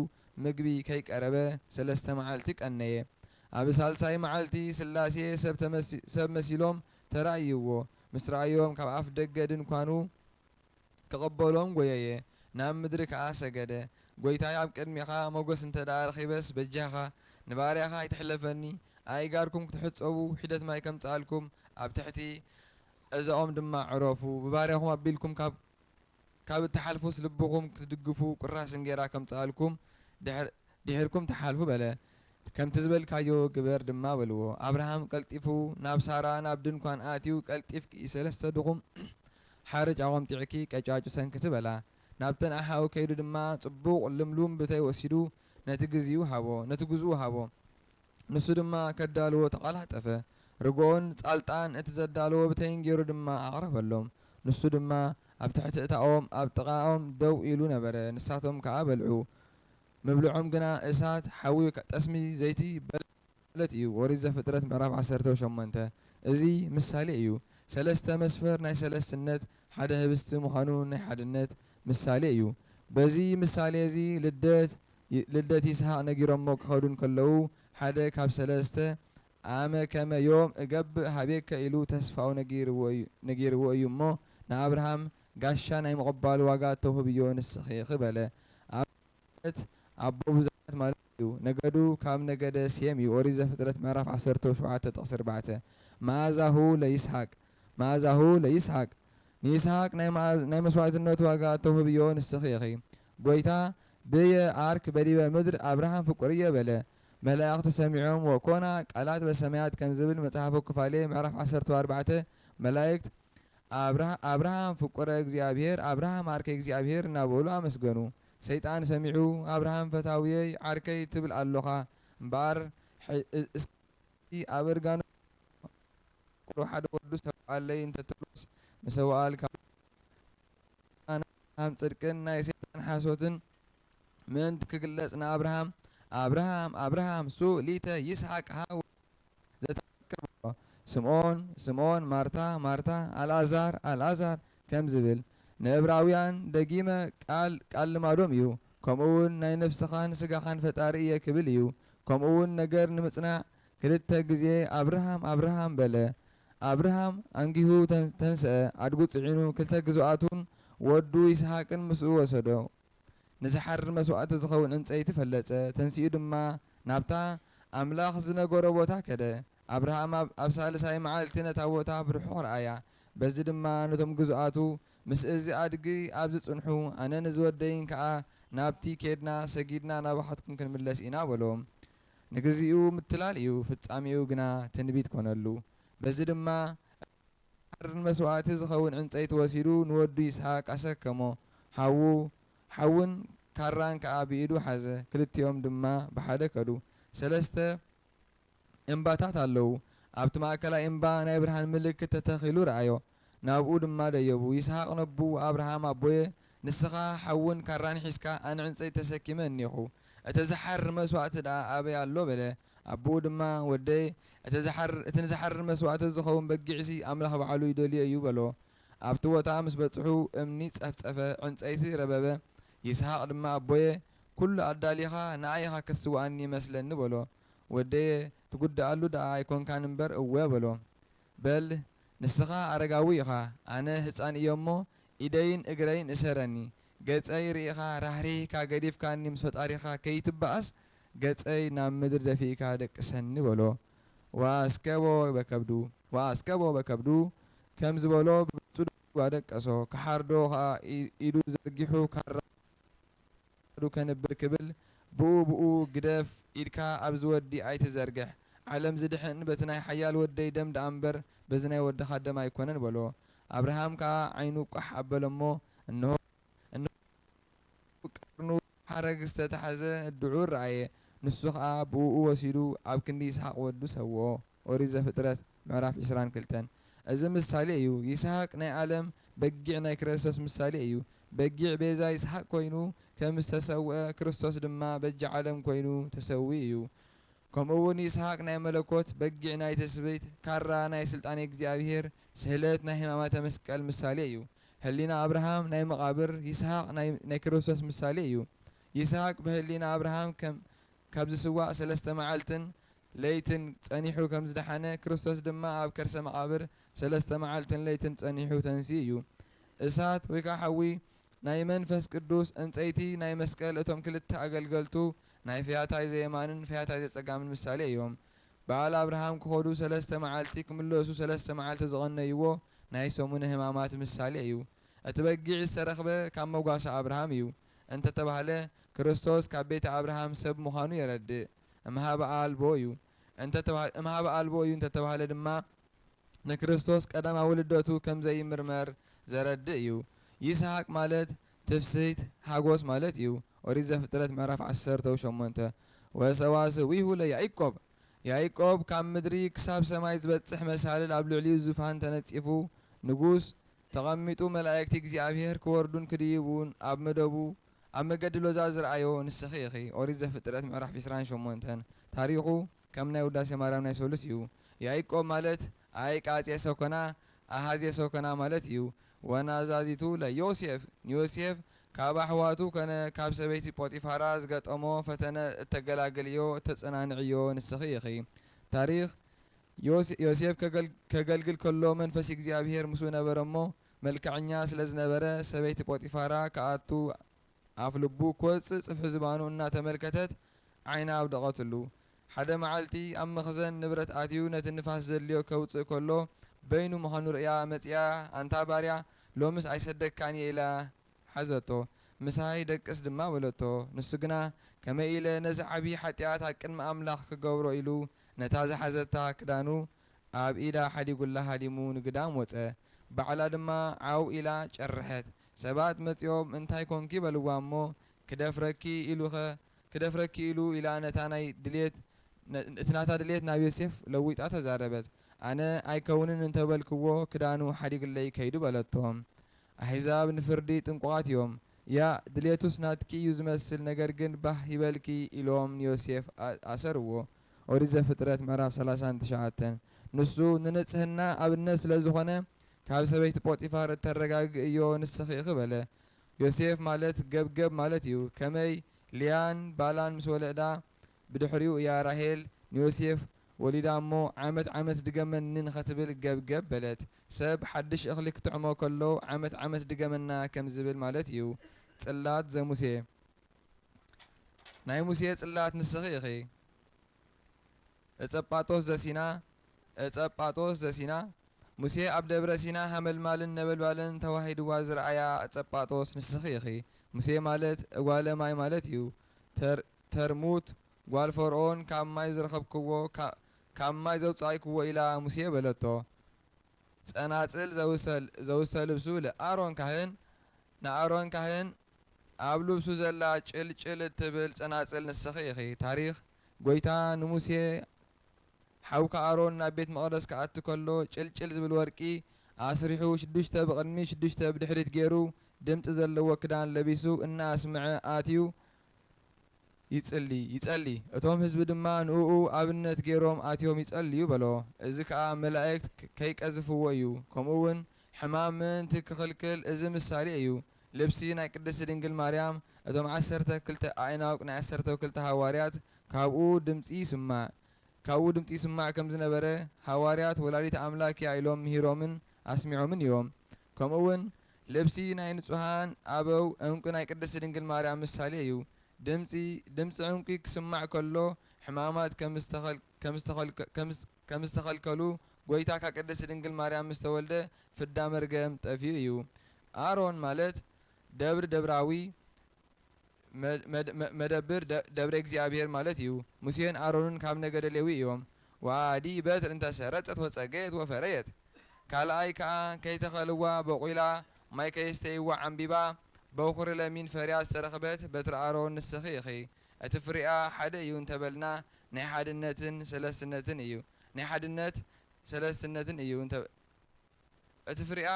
ምግቢ ከይቀረበ ሰለስተ መዓልቲ ቀነየ። ኣብ ሳልሳይ መዓልቲ ስላሴ ሰብ መሲሎም ተራእይዎ፣ ምስ ረኣዮም ካብ ኣፍ ደገ ድንኳኑ ክቕበሎም ጎየየ፣ ናብ ምድሪ ከኣ ሰገደ። ጎይታይ ኣብ ቅድሜኻ ሞገስ እንተደኣ ረኺበስ በጃኻ ንባርያኻ ኣይትሕለፈኒ፣ ኣእጋርኩም ክትሕጸቡ ሒደት ማይ ከምጽኣልኩም ኣብ ትሕቲ እዛኦም ድማ ዕረፉ ብባርያኹም ኣቢልኩም ካብ ካብ እትሓልፉስ ልብኹም ክትድግፉ ቁራስ እንጌራ ከምጽኣልኩም ድሕር ድሒርኩም ትሓልፉ በለ ከምቲ ዝበልካዮ ግበር ድማ በልዎ ኣብርሃም ቀልጢፉ ናብ ሳራ ናብ ድንኳን ኣትዩ ቀልጢፍኪ ሰለስተ ድኹም ሓርጭ ኣቆምጢዕኪ ቀጫጩ ሰንክቲ በላ ናብተን ኣሓኡ ከይዱ ድማ ጽቡቕ ልምሉም ብተይ ወሲዱ ነቲ ግዝኡ ሃቦ ነቲ ግዝኡ ሃቦ ንሱ ድማ ከዳልዎ ተቐላጠፈ፣ ርግኦን ጻልጣን እቲ ዘዳለዎ ብተይን ገይሩ ድማ ኣቕረበሎም። ንሱ ድማ ኣብ ትሕቲ እታ ኦም ኣብ ጥቓኦም ደው ኢሉ ነበረ፣ ንሳቶም ከኣ በልዑ። ምብልዖም ግና እሳት፣ ሓዊ፣ ጠስሚ፣ ዘይቲ በለ ማለት እዩ። ኦሪት ዘፍጥረት ምዕራፍ ዓሰርተው ሸሞንተ እዚ ምሳሌ እዩ። ሰለስተ መስፈር ናይ ሰለስትነት፣ ሓደ ህብስቲ ምዃኑ ናይ ሓድነት ምሳሌ እዩ። በዚ ምሳሌ እዚ ልደት፣ ልደት ይስሃቅ ነጊሮሞ ክከዱ እንከለዉ ሓደ ካብ ሰለስተ ኣመ ከመ ዮም እገብእ ሃቤከ ኢሉ ተስፋኡ ነጊርዎ እዩ እሞ ንኣብርሃም ጋሻ ናይ ምቅባሉ ዋጋ ተውህብዮ ንስኪ ኢኪ በለ ኣብርሃም ማለት ኣቦ ብዙሓት ማለት እዩ ነገዱ ካብ ነገደ ሴም እዩ ኦሪት ዘፍጥረት ምዕራፍ ዓሰርተው ሸውዓተ ጥቅሲ ኣርባዕተ መኣዛሁ ለይስሃቅ መኣዛሁ ለይስሃቅ ንይስሃቅ ናይ መኣዝ ናይ መስዋእትነት ዋጋ እተውህብዮ ንስኺ ኢኺ። ጐይታ፣ ብየ ኣርክ በዲበ ምድር ኣብርሃም ፍቁርየ በለ። መላእኽቲ ሰሚዖም ወኮና ቃላት በሰማያት ከም ዝብል መጽሓፈ ኩፋሌ ምዕራፍ ዓሰርተ ወኣርባዕተ መላእክት ኣብርሃ ኣብርሃም ፍቁረ እግዚኣብሔር ኣብርሃም ኣርከይ እግዚኣብሔር እናበሉ ኣመስገኑ። ሰይጣን ሰሚዑ ኣብርሃም ፈታውየይ ዓርከይ ትብል ኣሎኻ እምበኣር ሕይ እቲ ኣብ እርጋኑ ዝሰውኣሉ ሓደ ወዱ ሰውኣለይ እንተትብሎስ ምሰውኣልካ ኣሎ እሞ ናይ ኣብርሃም ጽድቅን ናይ ሰይጣን ሓሶትን ምእንቲ ክግለጽ ንኣብርሃም ኣብርሃም ኣብርሃም ሱ ሊተ ይስሓቅ ሃ ወልደ ዘተፈቅር በሎ ስምኦን ስምኦን ማርታ ማርታ ኣልኣዛር ኣልኣዛር ከም ዝብል ንእብራውያን ደጊመ ቃል ቃል ልማዶም እዩ ከምኡ ውን ናይ ነፍስኻን ስጋኻን ፈጣሪ እየ ክብል እዩ ከምኡ ውን ነገር ንምጽናዕ ክልተ ግዜ ኣብርሃም ኣብርሃም በለ ኣብርሃም ኣንጊሁ ተንስኣ ኣድጉ ጽዒኑ ክልተ ግዙኣቱን ወዱ ይስሃቅን ምስኡ ወሰዶ ንዝሓርድ መስዋእቲ ዝኸውን ዕንጸይቲ ፈለጸ ተንሲኡ ድማ ናብታ ኣምላኽ ዝነገሮ ቦታ ከደ ኣብርሃም ኣብ ኣብ ሳልሳይ መዓልቲ ነታ ቦታ ብርሑቕ ረኣያ፣ በዚ ድማ ነቶም ግዙኣቱ፣ ምስ እዚ ኣድጊ ኣብዚ ጽንሑ፣ ኣነን እዚ ወደይን ከኣ ናብቲ ኬድና፣ ሰጊድና ናባኻትኩም ክንምለስ ኢና በሎ። ንግዜኡ ምትላል እዩ፣ ፍጻሜኡ ግና ትንቢት ኰነሉ። በዚ ድማ ኣብርሃም ንመስዋእቲ ዝኸውን ዕንጸይቲ ወሲዱ ንወዱ ይስሃቅ ኣሰከሞ፣ ሓዉ ሓውን ካራን ከኣ ብኢዱ ሓዘ፣ ክልቲኦም ድማ ብሓደ ከዱ። ሰለስተ። እምባታት ኣለዉ። ኣብቲ ማእከላይ እምባ ናይ ብርሃን ምልክት ተተኺሉ ረኣዮ። ናብኡ ድማ ደየቡ። ይስሃቅ ነቡ፣ ኣብርሃም ኣቦየ፣ ንስኻ ሓውን ካራን ሒዝካ ኣነ ዕንጸይቲ ተሰኪመ እኔኹ። እቲ ዝሓርር መስዋእቲ ደኣ ኣበይ ኣሎ? በለ። ኣቦኡ ድማ ወደይ፣ እቲ ዝሓርር እቲ ንዝሓርር መስዋእቲ ዝኸውን በጊዕሲ ኣምላኽ ባዕሉ ይደልዮ እዩ በሎ። ኣብቲ ቦታ ምስ በጽሑ እምኒ ጸፍጸፈ፣ ዕንጸይቲ ረበበ፣ ይስሃቅ ድማ ኣቦየ ኩሉ ኣዳሊኻ ንኣይ ኢኻ ክትስውኣኒ ይመስለኒ በሎ ወደየ ትጉድኣሉ ድኣ ኣይኮንካን እምበር እወ በሎ በል ንስኻ ኣረጋዊ ኢኻ ኣነ ህጻን እየ'ሞ ኢደይን እግረይን እሰረኒ ገጸይ ርኢኻ ራህሪህካ ገዲፍካኒ ምስ ፈጣሪኻ ከይትባኣስ ገጸይ ናብ ምድሪ ደፊእካ ደቅሰኒ በሎ ወኣስከቦ በከብዱ ወኣስከቦ በከብዱ ከም ዝበሎ ብጹዱ ኢሉ ኣደቀሶ። ክሓርዶ ከኣ ኢዱ ዘርጊሑ ካራ ክሳዱ ከንብር ክብል ብኡ ብኡ ግደፍ ኢድካ ኣብዚ ወዲ ኣይትዘርግሕ ዓለም ዝድሕን በቲ ናይ ሓያል ወደይ ደም ደኣምበር በዚ ናይ ወድኻ ደም ኣይኮነን በሎ። ኣብርሃም ከኣ ዓይኑ ቋሕ ኣበለ'ሞ እንሆ እንሆ ኣብ ቀርኑ ሓረግ ዝተታሕዘ ድዑ ረኣየ፣ ንሱ ኸኣ ብእኡ ወሲዱ ኣብ ክንዲ ይስሃቅ ወዱ ሰውኦ። ኦሪት ዘፍጥረት ምዕራፍ ዕስራን ክልተን እዚ ምሳሌ እዩ። ይስሃቅ ናይ ኣለም በጊዕ ናይ ክረስቶስ ምሳሌ እዩ። በጊዕ ቤዛ ይስሃቅ ኮይኑ ከም ዝተሰውኣ ክርስቶስ ድማ በጃ ዓለም ኮይኑ ተሰዊኡ እዩ። ከምኡ እውን ይስሃቅ ናይ መለኮት፣ በጊዕ ናይ ትስብእት፣ ካራ ናይ ስልጣኔ እግዚኣብሔር፣ ስህለት ናይ ሕማማተ መስቀል ምሳሌ እዩ። ህሊና ኣብርሃም ናይ መቓብር፣ ይስሃቅ ናይ ክርስቶስ ምሳሌ እዩ። ይስሃቅ ብህሊና ኣብርሃም ከም ካብ ዝስዋእ ሠለስተ መዓልትን ለይትን ጸኒሑ ከም ዝደሓነ ክርስቶስ ድማ ኣብ ከርሰ መቓብር ሠለስተ መዓልትን ለይትን ጸኒሑ ተንሲኡ እዩ። እሳት ወይ ከዓ ሓዊ ናይ መንፈስ ቅዱስ፣ ዕንጸይቲ ናይ መስቀል እቶም ክልተ ኣገልገልቱ ናይ ፈያታይ ዘየማንን ፈያታይ ዘጸጋምን ምሳሌ እዮም። በዓል ኣብርሃም ክኸዱ ሰለስተ መዓልቲ ክምለሱ ሰለስተ መዓልቲ ዝቐነይዎ ናይ ሰሙነ ህማማት ምሳሌ እዩ። እቲ በጊዕ ዝተረኽበ ካብ መጓሰ ኣብርሃም እዩ እንተተባህለ ክርስቶስ ካብ ቤተ ኣብርሃም ሰብ ምዃኑ የረድእ። እምኀበ ኣልቦ እዩ እንተተባህለ እምኀበ ኣልቦ እዩ እንተተባህለ ድማ ንክርስቶስ ቀዳማዊ ልደቱ ከምዘይምርመር ዘረድእ እዩ። ይስሃቅ ማለት ትፍስህት ሓጎስ ማለት እዩ። ኦሪት ዘፍጥረት ምዕራፍ ዓሰርተው ሸሞንተ ወሰዋስዊሁ ለያኢቆብ ያኢቆብ ካብ ምድሪ ክሳብ ሰማይ ዝበጽሕ መሳልል ኣብ ልዕሊኡ ዙፋን ተነጺፉ ንጉስ ተቐሚጡ መላኢክቲ እግዚኣብሄር ክወርዱን ክድይቡን ኣብ መደቡ ኣብ መገዲ ሎዛ ዝረኣዮ ንስኺ ኢኺ ኦሪት ዘፍጥረት ምዕራፍ ዕስራን ሸሞንተን ታሪኹ ከም ናይ ውዳሴ ማርያም ናይ ሰሉስ እዩ ያኢቆብ ማለት ኣይቃጼ ሰኮና ኣሃዜ ሰኮና ማለት እዩ ዋና ኣዛዚቱ ለዮሴፍ ንዮሴፍ ካብ ኣሕዋቱ ከነ ካብ ሰበይቲ ጶጢፋራ ዝገጠሞ ፈተነ እተገላግልዮ እተጸናንዕዮ ንስኺ ኢኺ። ታሪኽ፣ ዮሴፍ ከገልግል ከሎ መንፈስ እግዚኣብሄር ምስኡ ነበረ እሞ፣ መልክዐኛ ስለ ዝነበረ ሰበይቲ ጶጢፋራ ክኣቱ ኣፍ ልቡ ክወጽእ ጽፍሒ ዝባኑ እናተመልከተት ዓይና ኣውደቐትሉ። ሓደ መዓልቲ ኣብ መኽዘን ንብረት ኣትዩ ነቲ ንፋስ ዘድልዮ ከውጽእ ከሎ በይኑ ምዃኑ ርእያ መጺኣ ኣንታ ባርያ ሎምስ ኣይሰደካን እየ ኢላ ሓዘቶ። ምሳይ ደቅስ ድማ በለቶ። ንሱ ግና ከመይ ኢለ ነዚ ዓቢ ሓጥያት ኣብ ቅድሚ ኣምላኽ ክገብሮ ኢሉ ነታ ዝሓዘታ ክዳኑ ኣብ ኢዳ ሓዲጉላ ሃዲሙ ንግዳም ወጸ። ባዕላ ድማ ዓው ኢላ ጨርሐት። ሰባት መጺኦም እንታይ ኰንኪ በልዋ እሞ ክደፍረኪ ኢሉኸ ክደፍረኪ ኢሉ ኢላ ነታ ናይ ድሌት እቲ ናታ ድሌት ናብ ዮሴፍ ለዊጣ ተዛረበት ኣነ ኣይከውንን እንተ በልክዎ ክዳኑ ሓዲግለይ ከይዱ በለቶ ኣሕዛብ ንፍርዲ ጥንቁቓት እዮም ያእ ድሌቱስ ናትኪ እዩ ዝመስል ነገር ግን ባህ ይበልኪ ኢሎም ንዮሴፍ ኣኣሰርዎ ኦሪት ዘፍጥረት ምዕራፍ ሰላሳን ትሽዓተን ንሱ ንንጽህና ኣብነት ስለ ዝኾነ ካብ ሰበይቲ ጶጢፋር እተረጋግእ እዮ ንስኺ ኢኺ በለ። ዮሴፍ ማለት ገብገብ ማለት እዩ። ከመይ ልያን ባላን ምስ ወለዳ ብድሕሪኡ እያ ራሄል ንዮሴፍ ወሊዳ እሞ ዓመት ዓመት ድገመኒ ንኸትብል ገብገብ በለት። ሰብ ሓድሽ እኽሊ ክጥዕሞ ከሎ ዓመት ዓመት ድገመና ከም ዝብል ማለት እዩ። ጽላት ዘሙሴ ናይ ሙሴ ጽላት ንስኺ ኢኺ። ዕጸጳጦስ ዘሲና ዕጸጳጦስ ዘሲና ሙሴ ኣብ ደብረ ሲና ሃመልማልን ነበልባልን ተዋሂድዋ ዝረኣያ ዕጸጳጦስ ንስኺ ኢኺ ሙሴ ማለት እጓለ ማይ ማለት እዩ ተር ተርሙት ጓል ፈርኦን ካብ ማይ ዝረኸብክዎ ካብ ካብ ማይ ዘውጻኢክዎ ኢላ ሙሴ በለቶ ጸናጽል ዘውሰ ዘውሰ ልብሱ ልኣሮን ካህን ንኣሮን ካህን ኣብ ልብሱ ዘላ ጭል ጭል እትብል ጸናጽል ንስኺ ኢኺ ታሪኽ ጐይታ ንሙሴ፣ ሓውካ ኣሮን ናብ ቤት መቕደስ ክኣቱ ከሎ፣ ጭልጭል ዝብል ወርቂ ኣስሪሑ፣ ሽዱሽተ ብቕድሚት ሽዱሽተ ብድሕሪት ገይሩ፣ ድምጺ ዘለዎ ክዳን ለቢሱ እናኣስምዐ ኣትዩ ይጽሊ ይጸሊ፣ እቶም ህዝቢ ድማ ንእኡ ኣብነት ገይሮም ኣትዮም ይጸልዩ በሎ። እዚ ከኣ መላእክት ከይቀዝፍዎ እዩ፣ ከምኡውን ሕማም ምእንቲ ክኽልክል እዚ ምሳሌ እዩ። ልብሲ ናይ ቅድስቲ ድንግል ማርያም እቶም ዓሰርተ ክልተ ኣዒናውቅ ናይ ዓሰርተው ክልተ ሃዋርያት ካብኡ ድምጺ ይስማዕ ካብኡ ድምጺ ይስማዕ ከም ዝነበረ ሃዋርያት ወላዲተ ኣምላክ እያ ኢሎም ምሂሮምን ኣስሚዖምን እዮም ከምኡ ውን ልብሲ ናይ ንጹሃን ኣበው ዕንቊ ናይ ቅድስቲ ድንግል ማርያም ምሳሌ እዩ ድምጺ ድምጺ ዕንቊ ክስማዕ ከሎ ሕማማት ከም ዝተኸል ከም ዝተኸልከ ከም ከም ዝተኸልከሉ ጎይታ ካብ ቅድስቲ ድንግል ማርያም ምስ ተወልደ ፍዳ መርገም ጠፊኡ እዩ ኣሮን ማለት ደብሪ ደብራዊ መደብር ደብረ እግዚኣብሔር ማለት እዩ። ሙሴን ኣሮንን ካብ ነገደ ሌዊ እዮም። ወኣዲ በትር እንተ ሰረጸት ወጸገየት ወፈረየት ካልኣይ ከኣ ከይተኸልዋ ቦቝላ ማይ ከየስተይዋ ዓምቢባ በዅሪ ለሚን ፈርያ ዝተረኽበት በትሪ ኣሮን ንስኺ ኢኺ። እቲ ፍሬኣ ሓደ እዩ እንተ በልና ናይ ሓድነትን ሰለስትነትን እዩ ናይ ሓድነት ሰለስትነትን እዩ እቲ ፍሬኣ።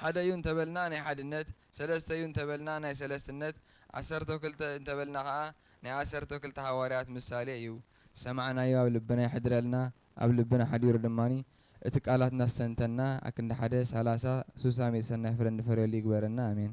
ሓደ እዩ እንተበልና ናይ ሓድነት፣ ሰለስተ እዩ እንተበልና ናይ ሰለስትነት፣ ዓሰርተው ክልተ እንተበልና ከኣ ናይ ዓሰርተው ክልተ ሃዋርያት ምሳሌ እዩ። ዝሰማዕናዮ ኣብ ልብና የሕድረልና፣ ኣብ ልብና ሓዲሩ ድማ እቲ ቃላት እናስተንተንና ኣክንዲ ሓደ፣ ሳላሳ፣ ሱሳ፣ ሚእቲ ሰናይ ፍረ እንፈርየሉ ይግበረና። ኣሜን።